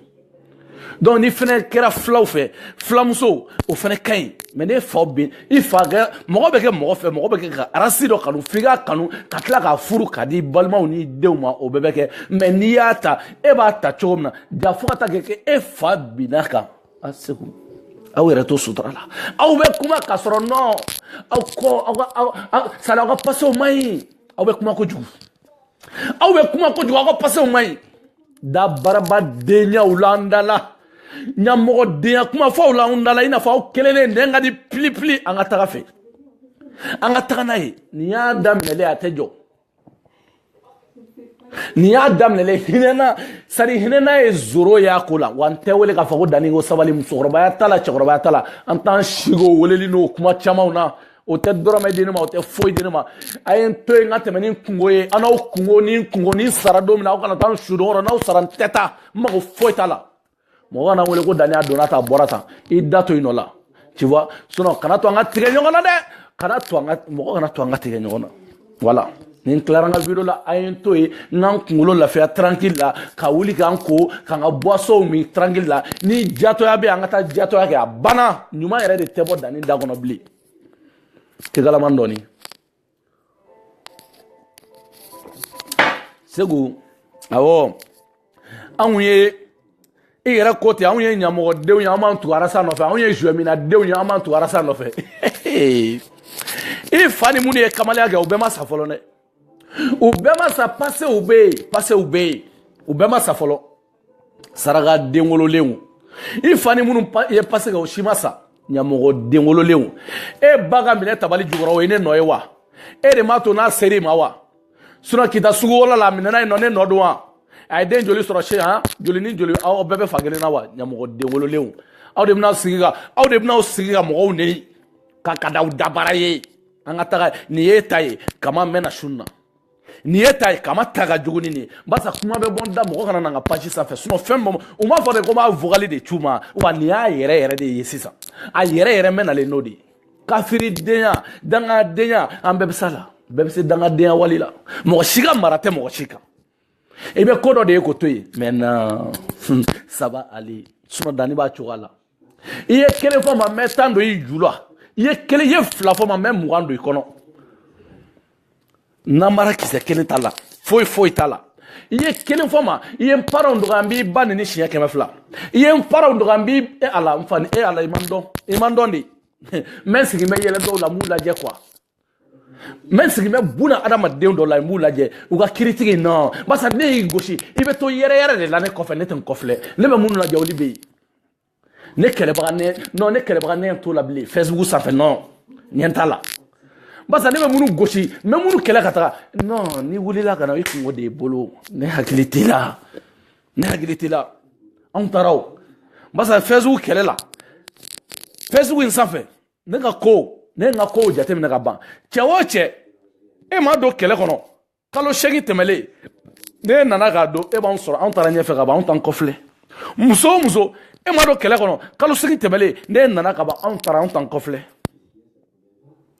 donc n'i fana kɛra filaw fɛ filamuso o fana ka ɲi mais ne faw bɛ i fa kɛ mɔgɔ bɛ kɛ mɔgɔ fɛ mɔgɔ bɛ kɛ ka arasi dɔ kanu f'i k'a kanu ka tila k'a furu k'a d'i balimaw ni denw ma o bɛɛ bɛ kɛ mais n'i y'a ta e b'a ta cogo min na ja fo ka taa kɛ e fa binna kan a segu aw yɛrɛ to sutura la aw bɛ kuma k'a sɔrɔ nɔ aw kɔ aw ka aw sari aw ka pasew man ɲi aw bɛ kuma kojugu aw bɛ kuma kojugu aw ka pasew man ɲi da baraba denyaw la an da la ɲamɔgɔ denya kuma fɔw la an da la i n'a fɔ aw kelen de nɛn ka di pilipili an ka taga fɛ an ka taga n'a ye nin y'a daminɛlen a tɛ jɔ nin y'a daminɛlen hinɛna sari hinɛna ye zero y'a ko la wa n tɛ wele k'a fɔ ko dani ko sabali musokɔrɔbaya t'a la cɛkɔrɔbaya t'a la an t'an sigi o weleli n'o kuma camanw na o tɛ dɔrɔmɛ di ne ma o tɛ foyi di ne ma a ye n to yen n ka tɛmɛ ni n kunko ye aw n'aw kunko ni n kunko ni n sara don min na aw kana taa n su don yɔrɔ n'aw sara n tɛ taa n mago foyi t'a la mɔgɔ kana n wele ko dani a donna tan bɔra tan i da to yen nɔ la tu vois sinon kana to an ka tigɛ ɲɔgɔn na dɛ kana to an ka mɔgɔ kana to an ka tigɛ ɲɔgɔn na voilà ni n tilara n ka video la a ye n to yen n ka n kunkolo lafiya tranquille la ka wuli ka n ko ka n ka boissonw min tranquille la ni jatɔya bɛ an ka taa jatɔya kɛ a banna ɲuman yɛrɛ de tɛ bɔ dani da kɔnɔ bilen kekalamani dɔɔni segu awɔ anw ye i yɛrɛ ko ten anw ye ɲamɔgɔdenw ye an b'an tugu arasa nɔfɛ anw ye zuwɛminadenw ye an b'an tugu arasa nɔfɛ i fa ni minnu ye kamalenya kɛ u bɛɛ ma sa fɔlɔ dɛ u bɛɛ ma sa pasew bɛ yen pasew bɛ yen u bɛɛ ma sa fɔlɔ saraka denwololenw i fa ni minnu ye pase kɛ o si ma sa ɲamɔgɔ denwololenw e ba ka minɛ tabali jukɔrɔ o ye ne nɔ ye wa e de m'a to n'a ser'i ma wa sinon kita sugu wolo la a minɛna yen nɔ ne nɔ don wa a ye den joli sɔrɔ se han joli ni joli aw bɛɛ bɛ fa kelen na wa ɲamɔgɔ denwololenw aw de bɛna sigi ka aw de bɛna sigi ka mɔgɔw neni ka ka da aw dabara ye an ka taga nin y'e ta ye kama mɛna sun na nin y'e ta ye kama ta ka jugu ni nin ye barisa kuma bɛ bɔ n da mɔgɔ kana na n ka page sanfɛ sinon fɛn bɔ u m'a fɔ de ko n b'a vocal de c'u ma wa nin y'a yɛrɛ yɛrɛ de ye sisan a yɛrɛ yɛrɛ mɛ nalen n'o de ye kafiridenya dangadenya an bɛɛ bɛ s'a la bɛɛ bɛ se dangadenya wale la mɔgɔ si ka mara tɛ mɔgɔ si kan i bɛ ko dɔ de ye k'o to yen mɛ na sabali sinon dani b'a cogoya la i ye kelen fɔ n ma n bɛ tan don i ju la i ye kelen ye fila fɔ n ma n bɛ mugan don i kɔnɔ namara kisɛ kelen t'a la foyi foyi t'a la i ye kelen fɔ n ma i ye n paranw dɔgɔya n b'i ba neni siɲɛ kɛmɛ fila i ye n paranw dɔgɔya n b'i e ala n fa ni e ala i ma n dɔn i ma n dɔn de n bɛ n sigi n bɛ yɛlɛ dɔw la n b'u lajɛ quoi mɛ n sigilen bɛ buna adamaden dɔw la n b'u lajɛ u ka critique non barisa ne y'i gosi i bɛ to yɛrɛ yɛrɛ de la ne kɔfɛ ne tɛ n kɔfilɛ ne bɛ minnu lajɛ olu bɛ yen ne kɛlɛbaga ne non ne kɛlɛbaga ne t'o la bilen fɛsibugu sanfɛ non n ɲɛ t'a la barisa ne bɛ minnu gosi n bɛ minnu kɛlɛ ka taga non n'i wulila ka na i kunko de y'i bolo ne hakili t'i la ne hakili t'i la anw taara o barisa fɛsibugu kɛlɛ la fɛsibugu in sanfɛ ne ka ko ne ka kow jateminɛ ka ban cɛ o cɛ e ma don kɛlɛ kɔnɔ kalo seegin tɛmɛlen n'e nana ka don e b'an sɔrɔ anw taara ɲɛfɛ ka ban anw t'an kɔfilɛ muso o muso e ma don kɛlɛ kɔnɔ kalo seegin tɛmɛlen n'e nana ka ban anw taara anw t'an kɔfilɛ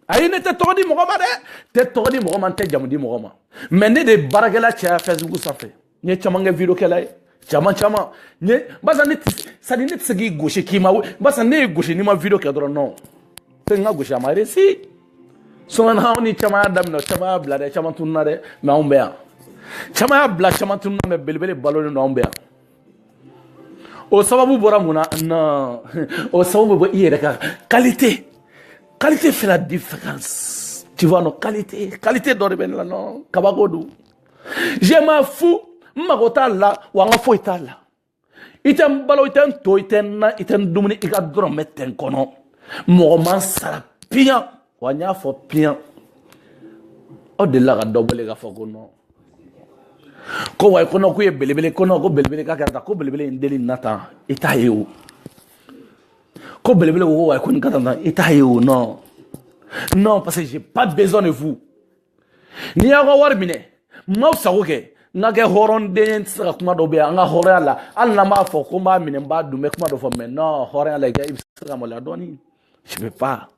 ayi ne tɛ tɔgɔ di mɔgɔ ma dɛ n tɛ tɔgɔ di mɔgɔ ma n tɛ jamu di mɔgɔ ma mɛ ne de ye baarakɛla caya fɛsibuku sanfɛ n ye caman kɛ videokɛla ye caman caman n ye barisa ne c'est-à-dire ne tɛ se k'i gosi k'i ma barisa ne y'i gosi n'i ma video kɛ dɔrɔn non fɛn n ka gosi a ma réussi sinon anw ni caman y'a daminɛ caman y'a bila dɛ caman tununa dɛ mɛ anw bɛ yan caman y'a bila caman tununa mɛ belebele balolen don anw bɛ yan o sababu bɔra mun na non o sababu bɛ bɔ i yɛrɛ ka qualité qualité fait la différence tu vois non qualité qualité dɔ de bɛ ne la non kabako don je m'en fous n mago t'a la wa n ka foyi t'a la i tɛ n balo i tɛ n to i tɛ n na i tɛ n dumuni i ka dɔrɔmɛ tɛ n kɔnɔ mɔgɔ ma n sara piyan wa n y'a fɔ piyan aw delila ka dɔ wele k'a fɔ ko non ko wa ko non k'u ye belebele ko non ko belebele k'a kɛra tan ko belebele in deli na tan i t'a ye o ko belebele ko ko wa ko nin ka tan tan i t'a ye o non non parce que j'ai pas besoin de vous ni n y'aw ka wari minɛ n b'aw sago kɛ n ka kɛ hɔrɔnden tɛ se ka kuma dɔ bɛ n ka hɔrɔnya la hali n'an b'a fɔ ko n b'a minɛ n b'a dun n bɛ kuma dɔ fɔ mɛ non hɔrɔnya la i bɛ se ka maloya dɔɔni je peux pas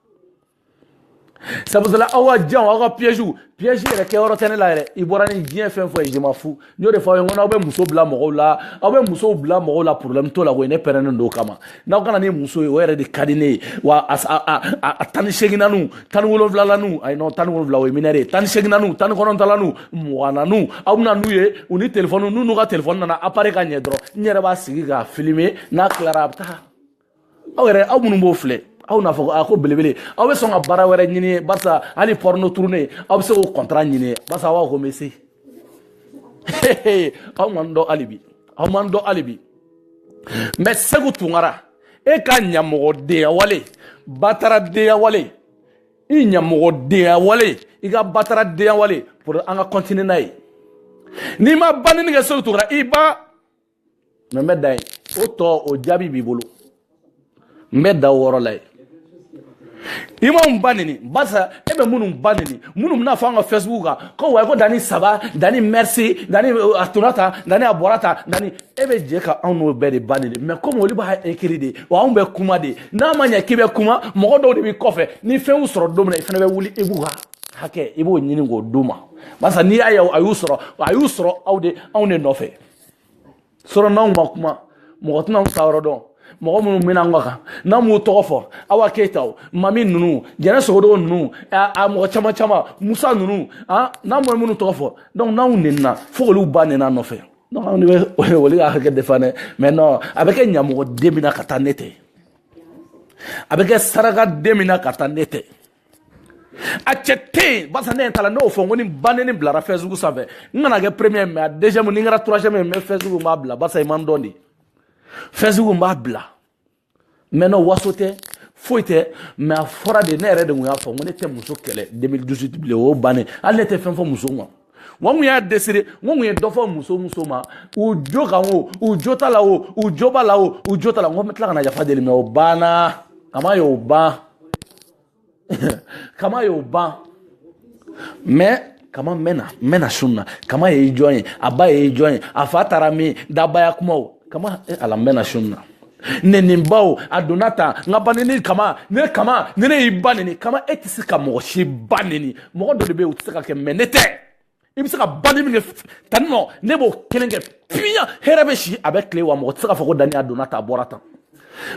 sabula aw ka janw aw ka piège piège yɛrɛ kɛyɔrɔ tɛ ne la yɛrɛ i bɔra ni diɲɛ fɛn fɛn ye je m'en fous n y'o de fɔ aw ye n ko n'aw bɛ muso bila mɔgɔw la aw bɛ musow bila mɔgɔw la problème t'o la koyi ne pɛrɛnnen don o kama n'aw ka na ni muso ye o yɛrɛ de ka di ne ye wa a a a a tan ni seeginnaniw tan ni wolonwulalaniw ayi non tan ni wolonwula o ye mineure ye tan ni seeginnaniw tan ni kɔnɔntɔnnaniw mugananiw aw bɛna n'u ye u ni telefɔniw n'u n'u ka telefɔni nana appareil ka ɲi dɔrɔn n yɛrɛ b'a sigi k'a filmer n'a tilara a bɛ taa aw yɛrɛ aw minnu b'o filɛ aw n'a fɔ a ko belebele aw bɛ sɔn ka baara wɛrɛ ɲini barisa hali porno tourner aw bɛ se k'o contrat ɲini barisa aw ko n bɛ se aw ma n dɔn hali bi aw ma n dɔn hali bi mɛ seku tunkara e ka ɲamɔgɔdenya wale bataradenya wale i ɲamɔgɔdenya wale i ka bataradenya wale pour an ka continuer n'a ye n'i ma banni kɛ seku tunkara i ba mais n bɛ dan yen o tɔ o jaabi b'i bolo n bɛ dan o yɔrɔ la yen i ma mun ba nini barisa e bɛ minnu ba nini minnu bɛ n'a fɔ an ka facebook kan ko wayi ko dani ça va dani merci dani euh, a donna tan dani a bɔra tan dani e bɛ jɛ ka anw n'o bɛɛ de ba nini mais comme olu b'a écrire de wa anw bɛ kuma de n'a ma ɲɛ k'i bɛ kuma mɔgɔ dɔw de b'i kɔfɛ ni fɛn y'u sɔrɔ don min na i fana bɛ wuli i b'u ka hakɛ i b'o ɲini k'o d'u ma barisa n'i y'a ye a y'u sɔrɔ a y'u sɔrɔ aw de anw de nɔfɛ sɔrɔ n'anw ma kuma mɔgɔ tɛna sa yɔrɔ dɔn mɔgɔ minnu mɛna an ka kan n'an m'u tɔgɔ fɔ awa keyita o mami ninnu jɛnɛ sogodogo ninnu a mɔgɔ caman caman musa ninnu n'an bɛ minnu tɔgɔ fɔ donc n'anw nenina fo k'olu ba neni an nɔfɛ donc anw de bɛ olu ka hakɛ défendre mais non a bɛ kɛ ɲamɔgɔden min na ka taa ne tɛ a bɛ kɛ sarakaden min na ka taa ne tɛ a cɛ tɛ yen barisa ne ta la ne y'o fɔ n ko ni banini bilara facebook sanfɛ n kana kɛ premier mais a deuxième ni n kɛra troisième ye n bɛ facebook n b'a bila barisa i man dɔn de facebook n b'a bila mais non waso tɛ foyi tɛ mais a fɔra de ne yɛrɛ de tun y'a fɔ n ko ne tɛ muso kɛlɛ 2018 bilen o y'o bannen hali ne tɛ fɛn fɔ muso ma wa n kun y'a désiré n kun ye dɔ fɔ muso muso ma u jo kan o u jo t'a la o u jo b'a la o u jo t'a la n ko n bɛ tila ka na yafa deli mais o banna kama y'o ban kama y'o ban mais kama n bɛ na n bɛ na sun na kama ye jɔn ye a ba ye jɔn ye a fa taara min dabaya kumaw kama e ala n bɛ na sun na nɛnenbaw a donna tan n ka ba nɛni kama ne kama ne ne y'i ba nɛni kama e tɛ se ka mɔgɔ si ba nɛni mɔgɔ dɔ de bɛ yen o tɛ se ka kɛ mais ne tɛ i bɛ se ka banini min kɛ tanni nɔ ne b'o kelen kɛ piyan hɛrɛ bɛ si a bɛ tile wa mɔgɔ tɛ se k'a fɔ ko dani a donna tan a bɔra tan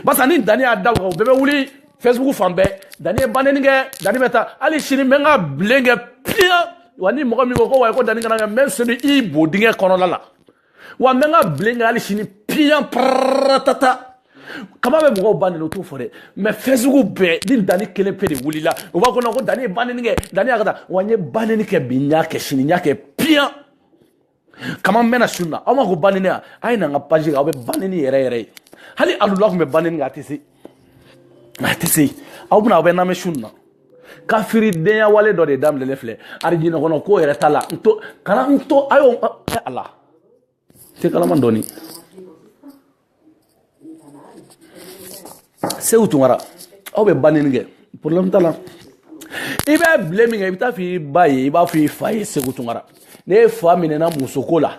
barisa ni dani y'a da o kan o bɛɛ bɛ wuli facebook fan bɛɛ dani ye ba nɛni kɛ dani bɛ taa hali sini n bɛ n ka bilen kɛ piyan wa ni mɔgɔ min ko ko wa ko dani kana kɛ n bɛ n seli i bodingɛ kɔnɔna la wa n bɛ n ka bilen kɛ hali sini piyan paratata kama bɛ mɔgɔw ba nini o t'o fɔ dɛ mais facebook bɛɛ ni dani kelen pe de wulila o b'a kɔnɔ ko dani ye banini kɛ dani y'a ka taa wa n ye banini kɛ bi n y'a kɛ sini n y'a kɛ piyan kama n bɛna sun na aw ma ko banini yan a ye na n ka page kan aw bɛ banini yɛrɛ yɛrɛ ye hali alula tun bɛ banini kɛ a tɛ se a tɛ se aw bɛna aw bɛ n'a mɛn sun na kafiridenya wale dɔ de daminɛlen filɛ arijinɛ kɔnɔ ko yɛrɛ t'a la n to kana n to a y'o ɛ ala tɛ kalama dɔɔni segu tunkara aw bɛ banini kɛ problème t'a la i bɛ bile min kɛ i bɛ t'a f'i ba ye i b'a f'i fa ye segu tunkara n'e fa minɛna musoko la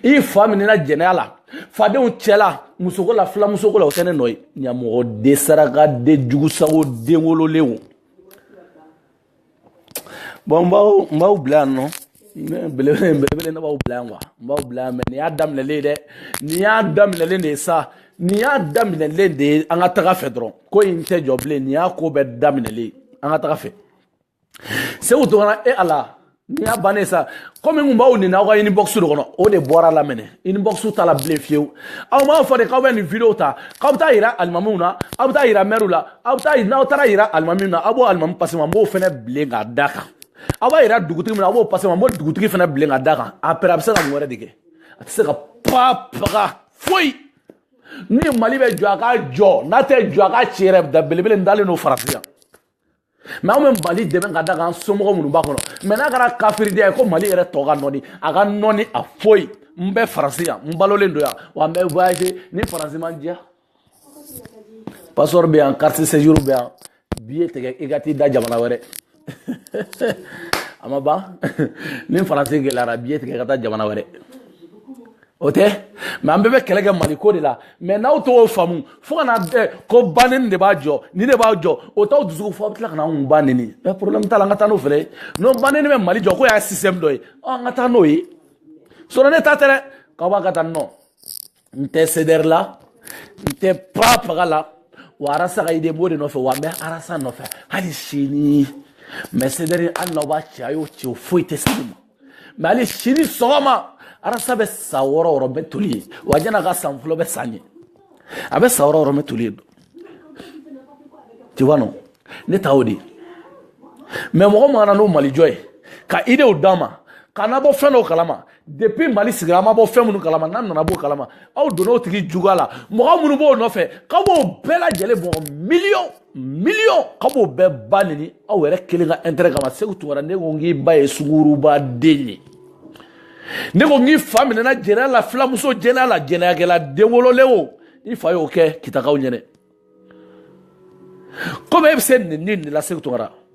i fa minɛna jɛnɛya la fadenw cɛla musoko la filamusoko la o tɛ ne nɔ ye ɲamɔgɔden sarakaden jugusago den wololenw bon n b'aw n b'aw bila yan non belebele belebele ne b'aw bila yan quoi n b'aw bila yan mais nin y'a daminɛlen ye dɛ nin y'a daminɛlen de ye sa nin y'a daminɛlen de ye an ka taga fɛ dɔrɔn ko in tɛ jɔ bilen nin y'a ko bɛɛ daminɛlen an ka taga fɛ segu tunkara e ala nin y'a bannen sa komi n kun b'aw neni aw ka inbox de kɔnɔ o de bɔr'a la maintenant inbox t'a la bilen fiyewu aw m'a fɔ de k'aw bɛ nin video ta k'aw bɛ taa yira alimamiw na aw bɛ taa yira mɛriw la aw bɛ taa n'aw taara yira alimamiw na aw b'o alimami pase n ma n b'o fɛnɛ bilen k'a da kan aw b'a yira dugutigi min na aw b'o pase n ma n b'o dugutigi fɛnɛ bilen ka da kan après a bɛ se ka mun wɛrɛ de kɛ a tɛ se ka pa paga foyi ni mali bɛ jɔ a ka jɔ n'a tɛ jɔ a ka ci yɛrɛ da belebele n dalen don faransi yan mais anw bɛ mali dɛmɛ ka da kan somɔgɔ minnu b'a kɔnɔ mais n'a kɛra kafiriden ko mali yɛrɛ tɔ ka nɔni a ka nɔni a foyi n bɛ faransi yan n balolen don yan wa n bɛ voyage ni faransi ma n diya passeport bɛ yan carte séjour bɛ yan biye tigɛ i ka t'i da jamana wɛrɛ a ma ban ni faransi gɛlɛyara biye tigɛ ka taa jamana wɛrɛ o tɛ mais an bɛɛ bɛ kɛlɛ kɛ mali ko de la mais n'aw t'o faamu fo kana bɛɛ ko baneni de b'a jɔ nin de b'a jɔ o t'aw dusuku fɔ aw bɛ tila ka na anw ba neni mais problème t'a la an ka taa n'o fɛnɛ ye n'o baneni bɛ mali jɔ k'o y'a système dɔ ye an ka taa n'o ye sɔrɔ ne ta tɛ dɛ k'aw b'a ka taa non n tɛ cdr la n tɛ pa paga la wa arasa ka idée n b'o de nɔfɛ wa n bɛ arasa nɔfɛ hali sini mais cdr hali n'aw b'a ci a y'o ci o foyi tɛ sigi ma mais hali sini sɔgɔma arasa bɛ sa wɔɔrɔ wɔɔrɔ bɛ toli ye wa jɛna ka san fɔlɔ bɛ san ye a bɛ sa wɔɔrɔ wɔɔrɔ bɛ toli ye tu vois non ne ta o de mais mɔgɔ min ka na n'o malijɔ ye ka idéew d'an ma ka na bɔ fɛn dɔw kalama depuis mali sigira an ma bɔ fɛn minnu kalama n'an nana b'o kalama aw donna o tigi juguya la mɔgɔ minnu b'o nɔfɛ k'aw b'o bɛɛ lajɛlen mɔgɔ miliyɔn miliyɔn k'aw b'o bɛɛ ba neni aw yɛrɛ kelen ka intérêt kama segu tunkara ne ko n k'i ba ye sunguruba den ye ne ko n k'i fa minɛna jɛnɛya la filamuso jɛnɛya la jɛnɛyakɛla den wololen o i fa y'o kɛ kitakaw ɲɛnɛ komi e bɛ se nenini la segu tunkara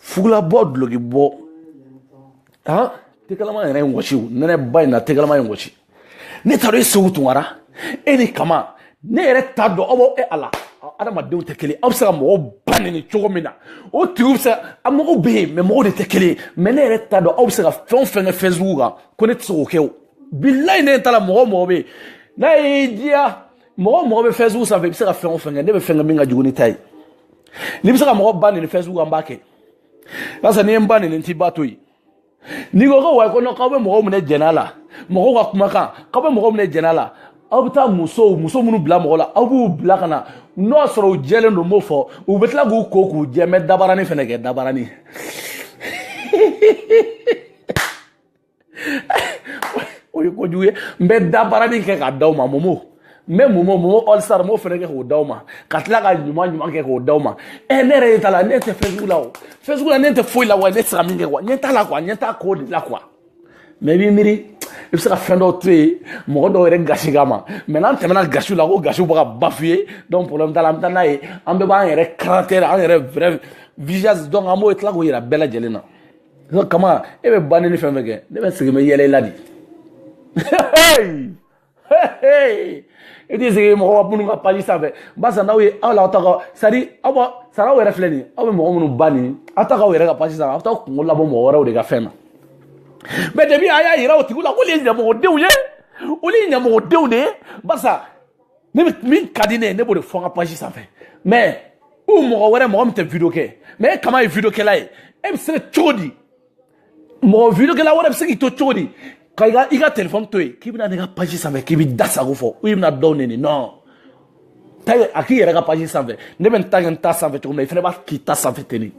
fugulabɔ dulokibɔ han te kalaman yɛrɛ ye n wɔsi nɛnɛba in na te kalaman ye n wɔsi ne taara e segu tunkara e ni kama ne yɛrɛ t'a dɔn aw b'aw e ala adamadenw tɛ kelen aw bɛ se ka mɔgɔw ba neni cogo min na o tigiw bɛ se a mɔgɔw bɛ yen mais mɔgɔw de tɛ kelen ye mais ne yɛrɛ t'a dɔn aw bɛ se ka fɛn o fɛn kɛ facebook kan ko ne tɛ se k'o kɛ o bilayi ne ta la mɔgɔ mɔgɔ bɛ yen n'a y'i diya mɔgɔ mɔgɔ bɛ facebook sanfɛ i bɛ se ka fɛn o fɛn kɛ ne bɛ fɛn kɛ min ka jugu n'i ta ye n'i bɛ se ka mɔgɔ ba neni facebook an b'a kɛ barisa n'i ye n ba neni n t'i ba to yen n'i ko ko wayi ko non k'aw bɛ mɔgɔw minɛ jɛn'a la mɔgɔw ka kumakan k'aw bɛ mɔgɔw minɛ jɛn'a la aw bɛ taa musow muso minnu bila mɔgɔ la aw b'u bila ka na n'o y'a sɔrɔ u jɛlen don n b'o fɔ u bɛ tila k'u ko k'u jɛ mɛ dabarani fɛnɛ kɛ dabarani o ye kojugu ye n bɛ dabarani kɛ k'a d'aw ma momo n bɛ momo momo all star n b'o fɛnɛ kɛ k'o d'aw ma ka tila ka ɲuman ɲuman kɛ k'o d'aw ma ɛ ne yɛrɛ ye t'a la ne tɛ facebook la o facebook la ne tɛ foyi la wa ne tɛ se ka min kɛ quoi ɲɛ t'a la quoi ɲɛ t'a ko de la quoi mais i b'i miiri i bɛ se ka fɛn dɔw to yen mɔgɔ dɔw yɛrɛ gasi kama mais n'an tɛmɛna gasiw la ko gasiw bɛ ka bafouer donc problème t'a la an bɛ taa n'a ye an bɛɛ b'an yɛrɛ caractère an yɛrɛ vrai visage donc an b'o tila k'o yira bɛɛ lajɛlen na ko kama e bɛ ba neni fɛn fɛn kɛ ne bɛ sigi n bɛ yɛlɛ i la de i t'i sigi mɔgɔ minnu ka page sanfɛ barisa n'aw ye aw la aw ta ka sari aw ba sara aw yɛrɛ filɛ nin ye aw bɛ mɔgɔ minnu ba neni aw t'a k'aw yɛrɛ ka page sanfɛ aw t'aw kunkolo bɔ mɔgɔ wɛrɛw de ka fɛn na mais depuis a y'a yira o tigiw la k'olu ye ɲamɔgɔdenw ye olu ye ɲamɔgɔdenw de ye barisa ne bɛ min ka di ne ye ne b'o de fɔ n ka page sanfɛ mais u mɔgɔ wɛrɛ mɔgɔ min tɛ video kɛ mais e kama ye video kɛla ye e bɛ se ka cogo di mɔgɔ video kɛla wɛrɛ bɛ se k'i to cogo di ka i ka i ka telefɔni to yen k'i bɛna ne ka page sanfɛ k'i b'i da sago fɔ i bɛna dɔw nɛni non taa a k'i yɛrɛ ka page sanfɛ ne bɛ n ta kɛ n ta sanfɛ cogo min na i fana b'a k'i ta sanfɛ ten de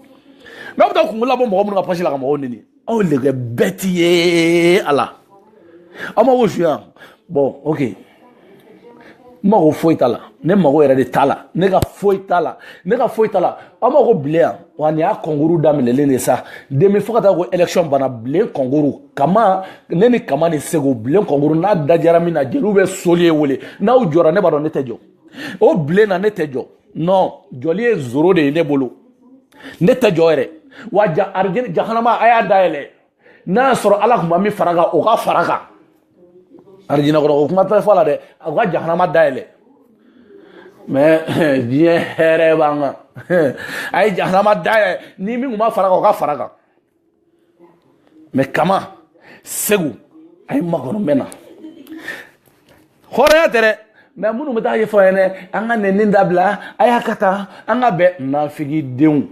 n'aw bɛ taa kunkolo bɔ mɔgɔ minnu ka page la ka mɔgɔw nɛni aw le kɛ bɛɛ ti ye a la aw ma ko su yan bon ok n mago foyi t'a la ne mago yɛrɛ de t'a la ne ka foyi t'a la ne ka foyi t'a la aw ma ko bile yan wa nin y'a kɔnkuru daminɛlen de sa demi fo ka taa ko élection bana bile kɔnkuru kama ne ni kama ni segu bile kɔnkuru n'a dajara min na jeliw bɛ soli ye wele n'aw jɔra ne b'a dɔn ne tɛ jɔ o bile na ne tɛ jɔ non jɔli ye zéro de ye ne bolo ne tɛ jɔ yɛrɛ wa arijinɛ jahanama a y'a dayɛlɛ n'a y'a sɔrɔ ala tun ma min fara kan o ka fara kan arijinɛ kɔrɔ o kuma tɛ fɔ a la dɛ a ka jahanama dayɛlɛ mais diɲɛ hɛrɛ b'an kan a ye jahanama dayɛlɛ ni min tun ma fara kan o ka fara kan mais kama segu a ye makɔnɔ mɛn na hɔrɔnya tɛ dɛ mais minnu bɛ taa ɲɛfɔ a ɲɛna an ka nɛni dabila a y'a ka taa an ka bɛn nafigidenw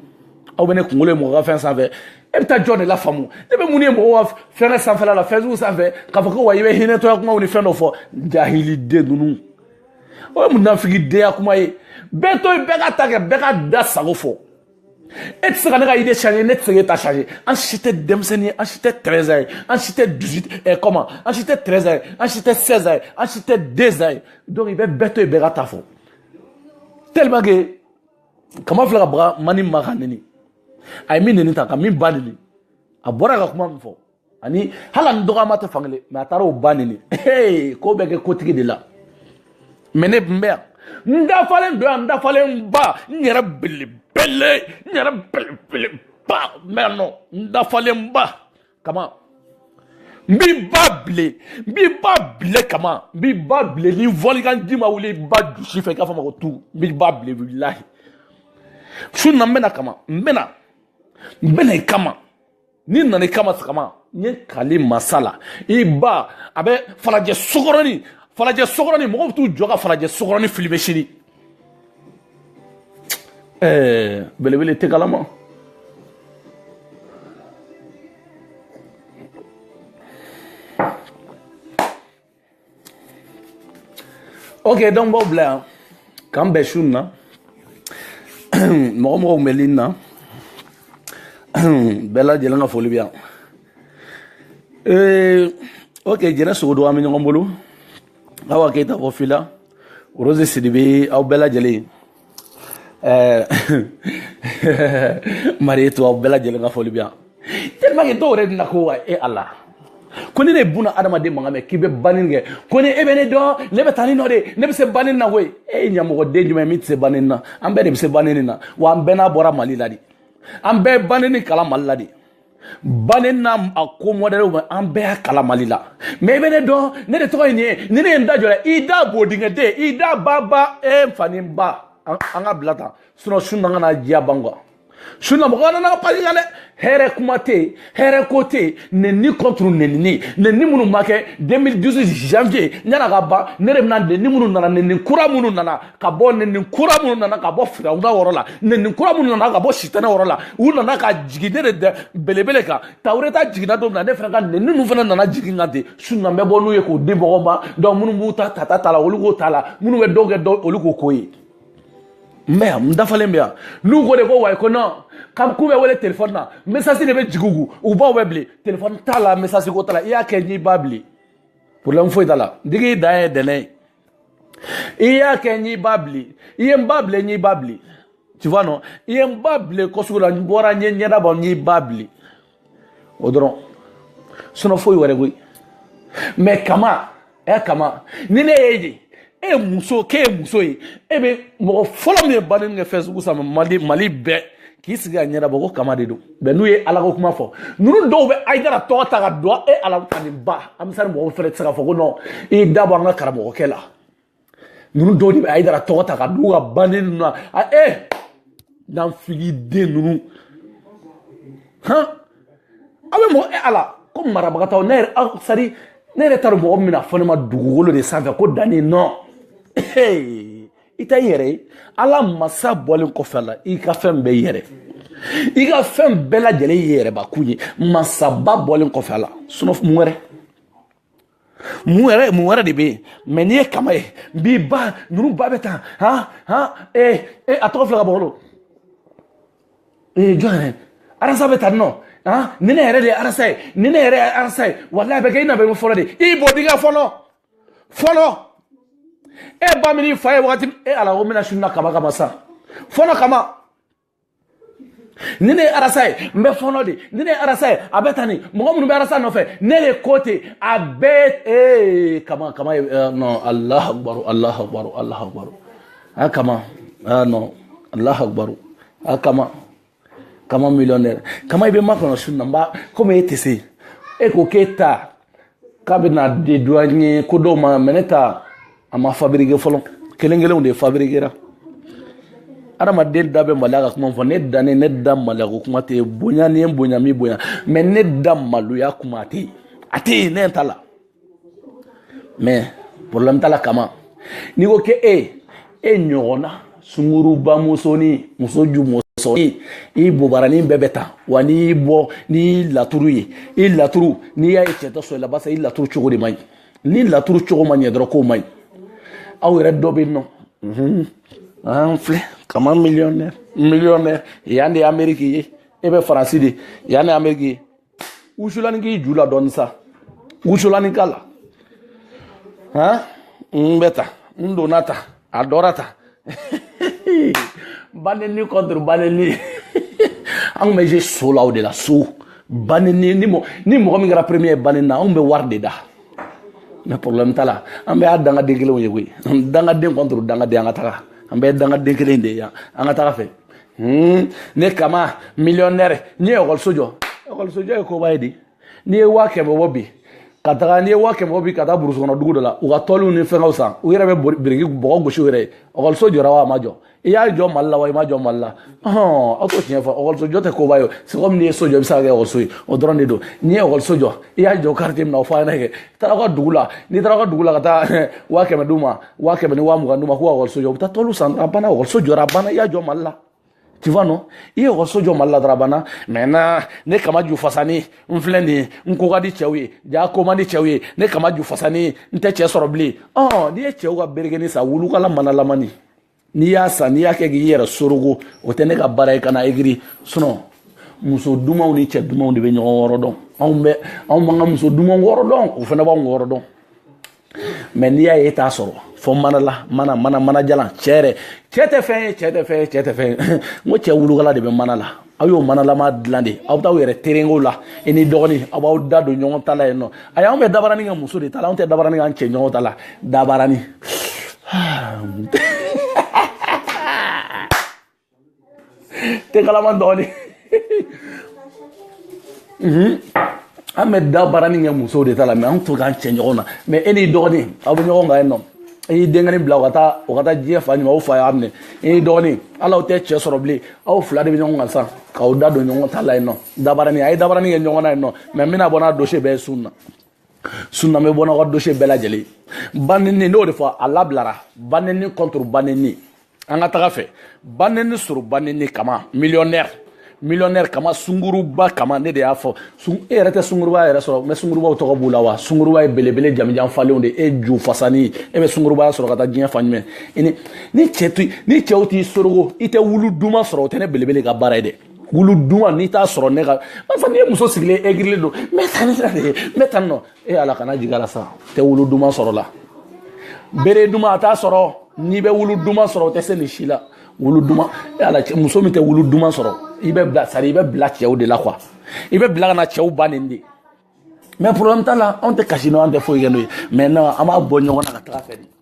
aw bɛ ne kunkolo ye mɔgɔ ka fɛn sanfɛ e bɛ taa jɔn de la faamu ne bɛ mun ye mɔgɔw ka fɛnkɛ sanfɛla la facebook sanfɛ k'a fɔ ko wa i bɛ hinɛtɔya kumaw ni fɛn dɔ fɔ jahiliden ninnu o ye munafigidenya kuma ye bɛɛ to yen bɛɛ k'a ta kɛ bɛɛ k'a da sago fɔ e tɛ se ka ne ka idée changer ne tɛ se k'e ta changer an si tɛ denmisɛnnin ye an si tɛ 13 ans ye an si tɛ 18 eh, comment an si tɛ 13 ans ye an si tɛ 16 ans ye an si tɛ 2 ans ye donc i bɛ bɛɛ to yen bɛɛ k'a ta fɔ tellement que kama filɛ ka baga mani ma k'a nɛni a ye min nɛni ta ka min ba nɛni a bɔra ka kuma min fɔ ani hali ani dɔgɔma tɛ fankelen mais a taara o ba nɛni ko bɛ kɛ kotigi de la mais ne tun bɛ yan n dafalen don yan n dafalen ba n yɛrɛ belebele n yɛrɛ belebeleba n bɛ yan nɔ n dafalen ba kama n b'i ba bilen n b'i ba bilen kama n b'i ba bilen ni volcan ji ma wuli i ba dusu fɛ i k'a fɔ ma ko tu n b'i ba bilen wallahi su na n bɛ na kama n bɛ na n bɛ na i kama ni n nana i kama sa kama n ye kali masa la i ba a bɛ falajɛ sokɔrɔni falajɛ sokɔrɔni mɔgɔw bɛ t'u jɔ ka falajɛ sokɔrɔni filmer sini ɛɛ belebele tɛ kalama ok donc b'aw bila yan k'an bɛn su na mɔgɔ mɔgɔ tun bɛ ligne na bɛɛ lajɛlen ka foli bɛ yan ee ok jɛnɛ sogodo an bɛ ɲɔgɔn bolo awa keyita fo fila rose sidibe aw bɛɛ lajɛlen ɛɛ marietou aw bɛɛ lajɛlen ka foli bɛ yan tellement que dɔw yɛrɛ bɛna ko wa e ala ko ni ne ye bunadamaden mankan mɛn k'i bɛ banɛni kɛ ko ni e bɛ ne dɔn ne bɛ taa ni nɔ de ne bɛ se banɛni na koyi e ye ɲamɔgɔden jumɛn min tɛ se banɛni na an bɛɛ de bɛ se banɛni na wa an bɛɛ n'a bɔra mali la de an bɛɛ banɛni kalan mali la de banɛni a ko mɔdɛliw bɛɛ an bɛɛ y'a kalan mali la mais i bɛ ne dɔn ne de tɔgɔ ye nin ye ni ne ye n da jɔ i da bodingɛden i da ba ba e n fa ni n ba an k'a bila tan sinon su na kana diya ban quoi su na mɔgɔ nana page kan dɛ hɛrɛ kuma tɛ yen hɛrɛ ko tɛ yen nɛni contre nɛnini nɛni minnu ma kɛ 2018 janvier yann'a ka ban ne de bɛna nɛni minnu nana nɛni kura minnu nana ka bɔ nɛni kura minnu nana ka bɔ firawuna yɔrɔ la nɛni kura minnu nana ka bɔ sitanɛ yɔrɔ la u nana ka jigin ne de dɛ belebele kan tawureta jiginna don min na ne fana ka nɛni ninnu fana nana jigin kan ten su na n bɛ bɔ n'u ye k'o di mɔgɔw ma donc minnu b'u ta ta ta ta la olu k'o ta la minnu bɛ dɔw kɛ dɔw olu k'o ko ye n bɛ yan n dafalen bɛ yan n'u ko de ko ouais ko non kam k'u bɛ wele téléphone na message de bɛ jigin u u baw bɛ bilen téléphone t'a la message ko t'a la i y'a kɛ n'i ba bilen problème foyi t'a la digi dan ye dɛnɛ ye i y'a kɛ n'i ba bile i ye n ba bile n'i ba bile tu vois non i ye n ba bile kɔsugu la n bɔra n ye ɲɛda bɔ n'i ba bile o dɔrɔn sinon foyi wɛrɛ koyi mais kama ɛ kama ni ne y'e de e ye muso k'e ye muso ye e bɛ mɔgɔ fɔlɔ min ye banenni kɛ facebook sanfɛ mali mali bɛɛ k'i sigi ka ɲɛda bɔ ko kama de don mais n'u ye ala ko kuma fɔ ninnu dɔw bɛ ayidara tɔgɔ ta ka dɔn e ala ka nin ba ansari mɔgɔw fɛnɛ tɛ se ka fɔ ko non i da bɔ an ka karamɔgɔkɛ la ninnu dɔw de bɛ ayidara tɔgɔ ta ka d'u ka banenni ninnu na a e nafigiden ninnu han aw bɛ mɔgɔ e ala ko marabagatɔw ne yɛrɛ aw sari ne yɛrɛ t'a dɔn mɔgɔ min bɛna fɔ ne ma dugukolo de sanfɛ ko danni non i ta i yɛrɛ ye ala masa bɔlen kɔfɛ a la i ka fɛn bɛɛ i yɛrɛ i ka fɛn bɛɛ lajɛlen i yɛrɛbakun ye masaba bɔlen kɔfɛ a la sinon mun wɛrɛ mun wɛrɛ mun wɛrɛ de bɛ yen mais n'i ye kama ye n b'i ba ninnu ba bɛ tan han han ee ee a tɔgɔ filɛ ka bɔ ee jɔn yɛrɛ arasa bɛ tan nɔ han ni ne yɛrɛ de ye arasa ye ni ne yɛrɛ ye arasa ye walayi a bɛ kɛ i na bɛ fɔlɔ de i bɔ dingɛ fɔlɔ. fɔlɔ e ba min fa ye wagati e ala ko bɛna sunna kama kama sa fɔlɔ kama ni ne ye arasa ye n bɛ fɔlɔ de ni ne ye arasa ye a bɛ tan ni mɔgɔ minnu bɛ arasa nɔfɛ ne de ko ten a bɛɛ ee kama kama ye non alahu akubaru alahu akubaru alahu akubaru a kama a non alahu akubaru a kama. kama millionnaire kama i bɛ makɔnɔ su na n b'a komi e tɛ se e ko k'e ta k'a bɛ na dédouaner ko dɔw ma mais ne ta a ma fabrike fɔlɔ kelen kelenw de fabrikera adamaden da bɛ maloya ka kuma fɔ ne dannen ne da maloya ko kuma tɛ bonya ni n bonya mi bonya mais ne da maloya kuma tɛ a tɛ yen ne ta la mais problème t'a la kama n'i ko ke e e ɲɔgɔnna sunguruba musonin muso ju musonin i bobaranin bɛɛ bɛ tan wa n'i y'i bɔ n'i y'i laturu ye i laturu n'i y'a ye cɛ tɛ sɔn i la barisa i laturu cogo de man ɲi ni laturu cogo ma ɲɛ dɔrɔn k'o man ɲi aw yɛrɛ dɔ bɛ yen nɔ an filɛ kama millionnaire millionnaire yan de ye ameriki ye e bɛ faransi de yan de ye ameriki ye wusulani k'i ju la dɔɔni sa wusulani k'a la han n bɛ ta n donna ta a dɔra ta banenni contre banenni anw bɛ je so la o de la so banenni ni mɔgɔ ni mɔgɔ min kɛra premier ye banenni na anw bɛ wari de da mais problème t'a la an bɛɛ ye dangaden kelenw ye koyi dangaden contre dangaden an ka taga an bɛɛ ye dangaden kelen de ye yan an ka taga fɛ Hmm, ne kama millionnaire n'i ye ekɔliso jɔ ekɔliso jɔ ye koba ye di n'i ye waa kɛmɛ bɔ bi ka taga n'i ye waa kɛmɛ bɔ bi ka taa burusi kɔnɔ dugu dɔ la u ka tɔliw ni fɛngɛw san u yɛrɛ bɛ biriki bɔgɔ gosi u yɛrɛ ye ekɔliso jɔra wa a ma jɔ i y'a jɔ mali la wa i m'a jɔ mali la hɔn aw t'o tiɲɛ fɔ ekɔliso jɔ tɛ koba ye o c'est comme n'i ye so jɔ i bɛ se k'a kɛ ekɔliso ye o dɔrɔn de don n'i ye ekɔliso jɔ i y'a jɔ quartier min na o fɔ an ɲɛna kɛ i taara aw ka dugu la n'i taara aw ka dugu la ka taa waa kɛmɛ d'u ma waa kɛmɛ ni waa mugan d'u ma k'u ka ekɔliso jɔ u bɛ taa tɔliw san a banna ekɔliso jɔra a banna i y'a jɔ mali la tu vois non i ye ekɔliso jɔ mali la dɔrɔn a banna maintenant ne kama ju fasani n filɛ nin ye n ko ka di cɛw ye ja ko man di cɛw ye ne kama ju fasani n tɛ cɛ sɔrɔ bilen ɔ n'i ye cɛw ka berekeni san wulukala manalamani n'i y'a san n'i y'a kɛ k'i yɛrɛ sorogo o tɛ ne ka baara ye kana egiri sinon muso dumanw ni cɛ dumanw de bɛ ɲɔgɔn wɔrɔ dɔn anw bɛ anw b'an ka muso dumanw wɔrɔ dɔn o fana b'anw wɔrɔ dɔn mais n'i y'a ye e t'a sɔrɔ fɔ mana la mana mana mana jalan cɛ yɛrɛ cɛ tɛ fɛn ye cɛ tɛ fɛn ye cɛ tɛ fɛn ye n ko cɛ wulukala de bɛ mana la aw y'o manalama dilan de aw bɛ taa aw yɛrɛ terenko la i n'i dɔgɔnin aw b'aw da don ɲɔgɔn ta la yen nɔ ayi anw bɛ dabarani kɛ muso de ta la anw tɛ dabarani k'an cɛ ɲɔgɔn ta la dabarani tɛ kalama dɔɔnin an bɛ dabaranin kɛ musow de ta la mais an t'o k'an cɛ ɲɔgɔn na mais e n'i dɔgɔnin aw bɛ ɲɔgɔn kan yen nɔ e y'i denkɛnin bila o ka taa o ka taa diɲɛ fan jumɛn o fa y'a minɛ e n'i dɔgɔnin ala aw tɛ cɛ sɔrɔ bilen aw fila de bɛ ɲɔgɔn kan sisan k'aw da don ɲɔgɔn ta la yen nɔ dabaranin a ye dabaranin kɛ ɲɔgɔn na yen nɔ mais n bɛna bɔ n'a dossier bɛɛ ye su na su na n bɛ bɔ n'aw ka dossier bɛɛ lajɛlen baneni n'o de fɔ a labilara baneni contre baneni an ka taga fɛ baneni sɔrɔ baneni kama millionnaire millionnaire kama sunguruba kama ne de y'a fɔ e yɛrɛ tɛ sunguruba yɛrɛ sɔrɔ mais sungurubaw tɔgɔ b'u la wa sunguruba ye belebele jamijan falenw de e ju fasani e bɛ sungurubaya sɔrɔ ka taa diɲɛ fan jumɛn ni ni cɛ to ni cɛw t'i sorogo i tɛ wulu duman sɔrɔ o tɛ ne belebele ka baara ye dɛ wulu duman n'i t'a sɔrɔ ne ka barisa n'i ye muso sigilen egirilen don n bɛ taa ni sira de ye n bɛ taa nɔ e ala kana jigin la sa tɛ wulu duman sɔrɔ la bere duman a t'a sɔrɔ n'i bɛ wulu duman sɔrɔ o tɛ se nin si la wulu duman e ala muso min tɛ wulu duman sɔrɔ i bɛ bila sari i bɛ bila cɛw de la quoi i bɛ bila ka na cɛw ba neni de mais problème t'a la anw tɛ kasi n'o an tɛ foyi kɛ n'o ye maintenant an b'a bɔ ɲɔgɔn na ka taga fɛ de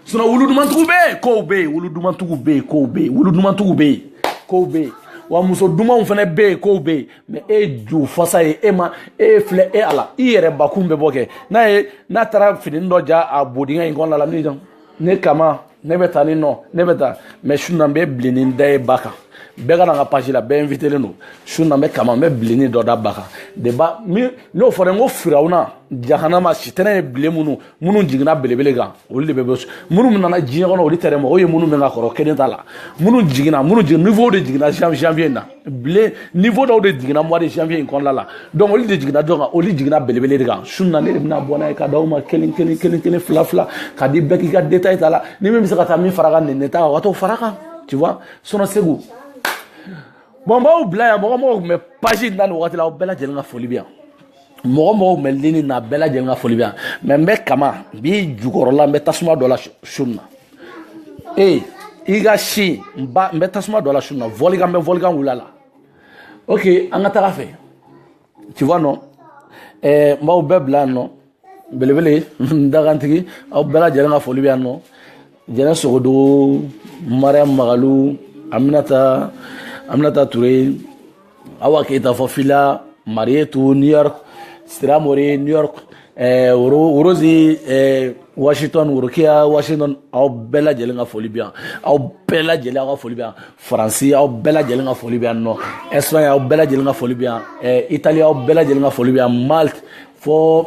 sinon wulu dumantigiw bɛ yen kow bɛ yen wulu dumantigiw bɛ yen kow bɛ yen wulu dumantigiw bɛ yen kow bɛ yen wa muso dumanw fana bɛ yen kow bɛ yen mais e ye ju fasa ye e ma e ye filɛ e ala i yɛrɛ bakun bɛ bɔ kɛ n'a ye n'a taara fini dɔ ja a bodingɛ in kɔnɔna la min dɔn ne kama ne bɛ taa ni nɔ ne bɛ taa mais su na n bɛ bilenni da e ba kan bɛɛ ka na n ka page la bɛɛ invitelen don su na n bɛ kama n bɛ bilenni dɔ da ba kan de ba min n'o fɔra n ko firawuna jahanama sitanɛ ye bilen minnu minnu jiginna belebele kan olu de bɛ bɔ minnu nana diɲɛ kɔnɔ olu tɛ dɛ mɔgɔw ye minnu bɛ ka kɔrɔ kelen t'a la minnu jiginna minnu jigin niveau de jiginna janvier in na bilen niveau dɔw de jiginna mois de janvier in kɔnɔna la donc olu de jiginna dɔ kan olu jiginna belebele de kan su na ne de bɛna bɔ n'a ye ka d'aw ma kelen kelen kelen kelen fila fila ka di bɛɛ k'i ka détail ta la ni min bɛ se ka taa min fara kan nin ta o ka t'o fara kan tu vois sinon segu bon n b'aw bila yan mɔgɔ mɔgɔ tun bɛ page in na nin wagati la aw bɛɛ lajɛlen ka foli bɛ yan mɔgɔ mɔgɔ tun bɛ lini na bɛɛ lajɛlen ka foli bɛ yan mais n bɛ kama n b'i jukɔrɔla n bɛ tasuma dɔ la su na ee i ka si n ba n bɛ tasuma dɔ la su na volcan n bɛ volcan wul'a la ok an ka taga fɛ tu vois non ɛɛ n b'aw bɛɛ bila yan nɔ belebele n dagantigi aw bɛɛ lajɛlen ka foli bɛ yan nɔ jɛnɛ sogodogo mariyamu magalu aminata aminata ture awa keyita fɔ fila marietu new york siramori new york eh, worozi eh, washington worokiya washington aw bɛɛ lajɛlen ka foli bɛ yan aw bɛɛ lajɛlen aw ka foli bɛ yan faransi aw bɛɛ lajɛlen ka foli bɛ yan nɔ espagne aw bɛɛ lajɛlen ka foli bɛ yan eh, italie aw bɛɛ lajɛlen ka foli bɛ yan malte fo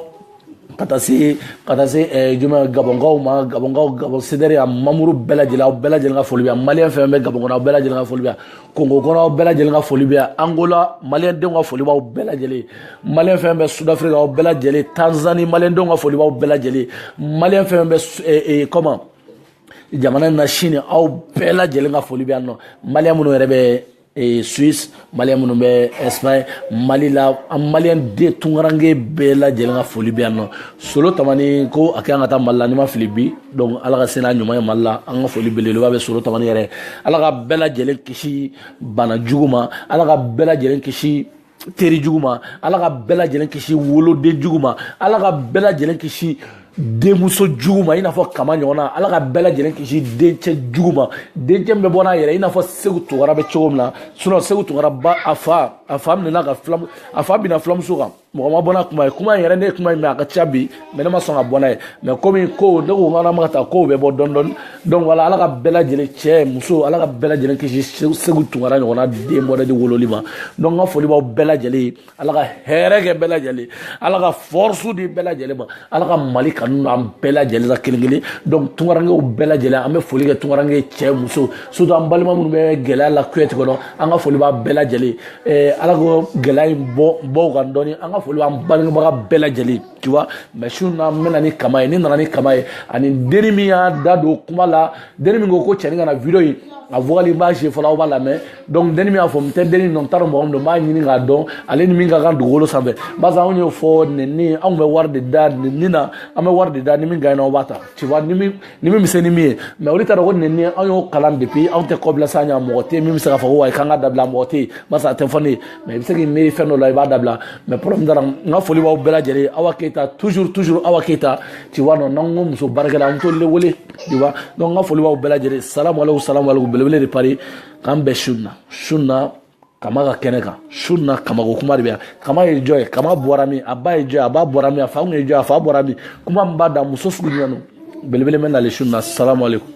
ka taa se ka taa se eh, juma gabɔnkaw ma gabɔnkaw gabɔn cdr a mamuru bɛɛ lajɛlen aw bɛɛ lajɛlen ka foli bɛ yan maliyɛn fɛn fɛn bɛ gabɔn kɔnɔ aw bɛɛ lajɛlen ka foli bɛ yan kongo kɔnɔ aw bɛɛ lajɛlen ka foli bɛ yan angola maliyɛn denw ka foli b'aw bɛɛ lajɛlen maliyɛn fɛn bɛ sudafirika aw bɛɛ lajɛlen tanzani maliyɛn denw ka foli b'aw bɛɛ lajɛlen maliyɛn fɛn bɛ eh, eh, comment jamana in na chine aw bɛɛ lajɛlen ka foli bɛ yan nɔ maliyɛn minnu yɛrɛ bɛ ee suisse maliyɛn minnu bɛ espagne mali la an maliyɛn den tunkaranke bɛɛ lajɛlen ka foli bɛ yan nɔ solo tamani ko a kɛ an ka taa mali la ni n ma fili bi donc ala ka se n'a ɲuman ye mali la an ka foli belebeleba bɛ solo tamani yɛrɛ ala ka bɛɛ lajɛlen kisi bana jugu ma ala ka bɛɛ lajɛlen kisi teri jugu ma ala ka bɛɛ lajɛlen kisi woloden jugu ma ala ka bɛɛ lajɛlen kisi denmuso jugu ma i n'a fɔ kama ɲɔgɔnna ala ka bɛɛ lajɛlen kisi dencɛ jugu ma dencɛ min bɛ bɔ n'a yɛrɛ i n'a fɔ segu tunkara bɛ cogo min na sinon segu tunkara ba a fa a fa minɛna ka filamu a fa bina filamuso kan mɔgɔ ma bɔ n'a kuma ye kuma in yɛrɛ ne ye kuma in mɛn a ka ca bi mais ne ma sɔn ka bɔ n'a ye mais komi ko ne ko k'an ma ka taa kow bɛ bɔ dɔɔni dɔɔni donc voilà ala ka bɛɛ lajɛlen cɛ muso ala ka bɛɛ lajɛlen kisi segu tunkara ɲɔgɔnna den bɔra de wololi ma donc n ka foli b'aw bɛɛ lajɛlen ye ala ka hɛrɛ kɛ bɛɛ lajɛlen ala ka force di bɛɛ lajɛlen ma ala ka mali kanu don an bɛɛ lajɛlen la kelen kelen donc tunkarankew bɛɛ lajɛlen an bɛ foli kɛ tunkaranke cɛ muso surtout an balima minnu bɛ gɛlɛya la kuyɛti kɔnɔ an ka foli b'a bɛɛ lajɛlen ala k'o gɛlɛya in bɔ u kan dɔɔni an ka foli b'an bangebaga bɛɛ lajɛlen tu vois mais su na n bɛ na ni kama ye ni n nana ni kama ye ani deni min y'a da don kuma la deni min ko ko cɛni kana vidéo in a vocal n b'a je fɔlɔ aw b'a lamɛn donc deni min y'a fɔ n tɛ deni dɔn n t'a dɔn mɔgɔ min don n b'a ɲini k'a dɔn ale ni min ka kan dugukolo sanfɛ barisa anw y'o fɔ nɛni anw bɛ wari de da nɛni na an bɛ wari de da ni min gaɲɛna aw b'a ta tu vois ni min ni min bɛ se ni min ye mais olu t'a dɔn ko nɛni anw y'o kalan depuis anw tɛ kɔbila sa ɲa mɔgɔ tɛ min bɛ se k'a fɔ ko wayi k'an k'a dabila mɔgɔ tɛ yen barisa a tɛ fɔ ne ye mais i bɛ se k'i miiri fɛn dɔ la i b'a dabila mais problème t'a la n ka foli b'aw bɛɛ lajɛlen awa keyita toujours toujours awa keyita tu vois non n'an ko muso baarakɛla an t'olu de wele tu vois donc n ka foli b'aw bɛɛ lajɛlen salamu aleykum salamu aleykum belebele de paris k'an bɛn su na su na kama ka kɛnɛ kan su na kama ko kuma de bɛ yan kama ye jɔn ye kama bɔra min a ba ye jɔn ye a ba bɔra min a fa kun ye jɔn ye a fa bɔra min kuma min b'a da muso sugu jumɛn don belebele bɛ nali su na salamu aleykum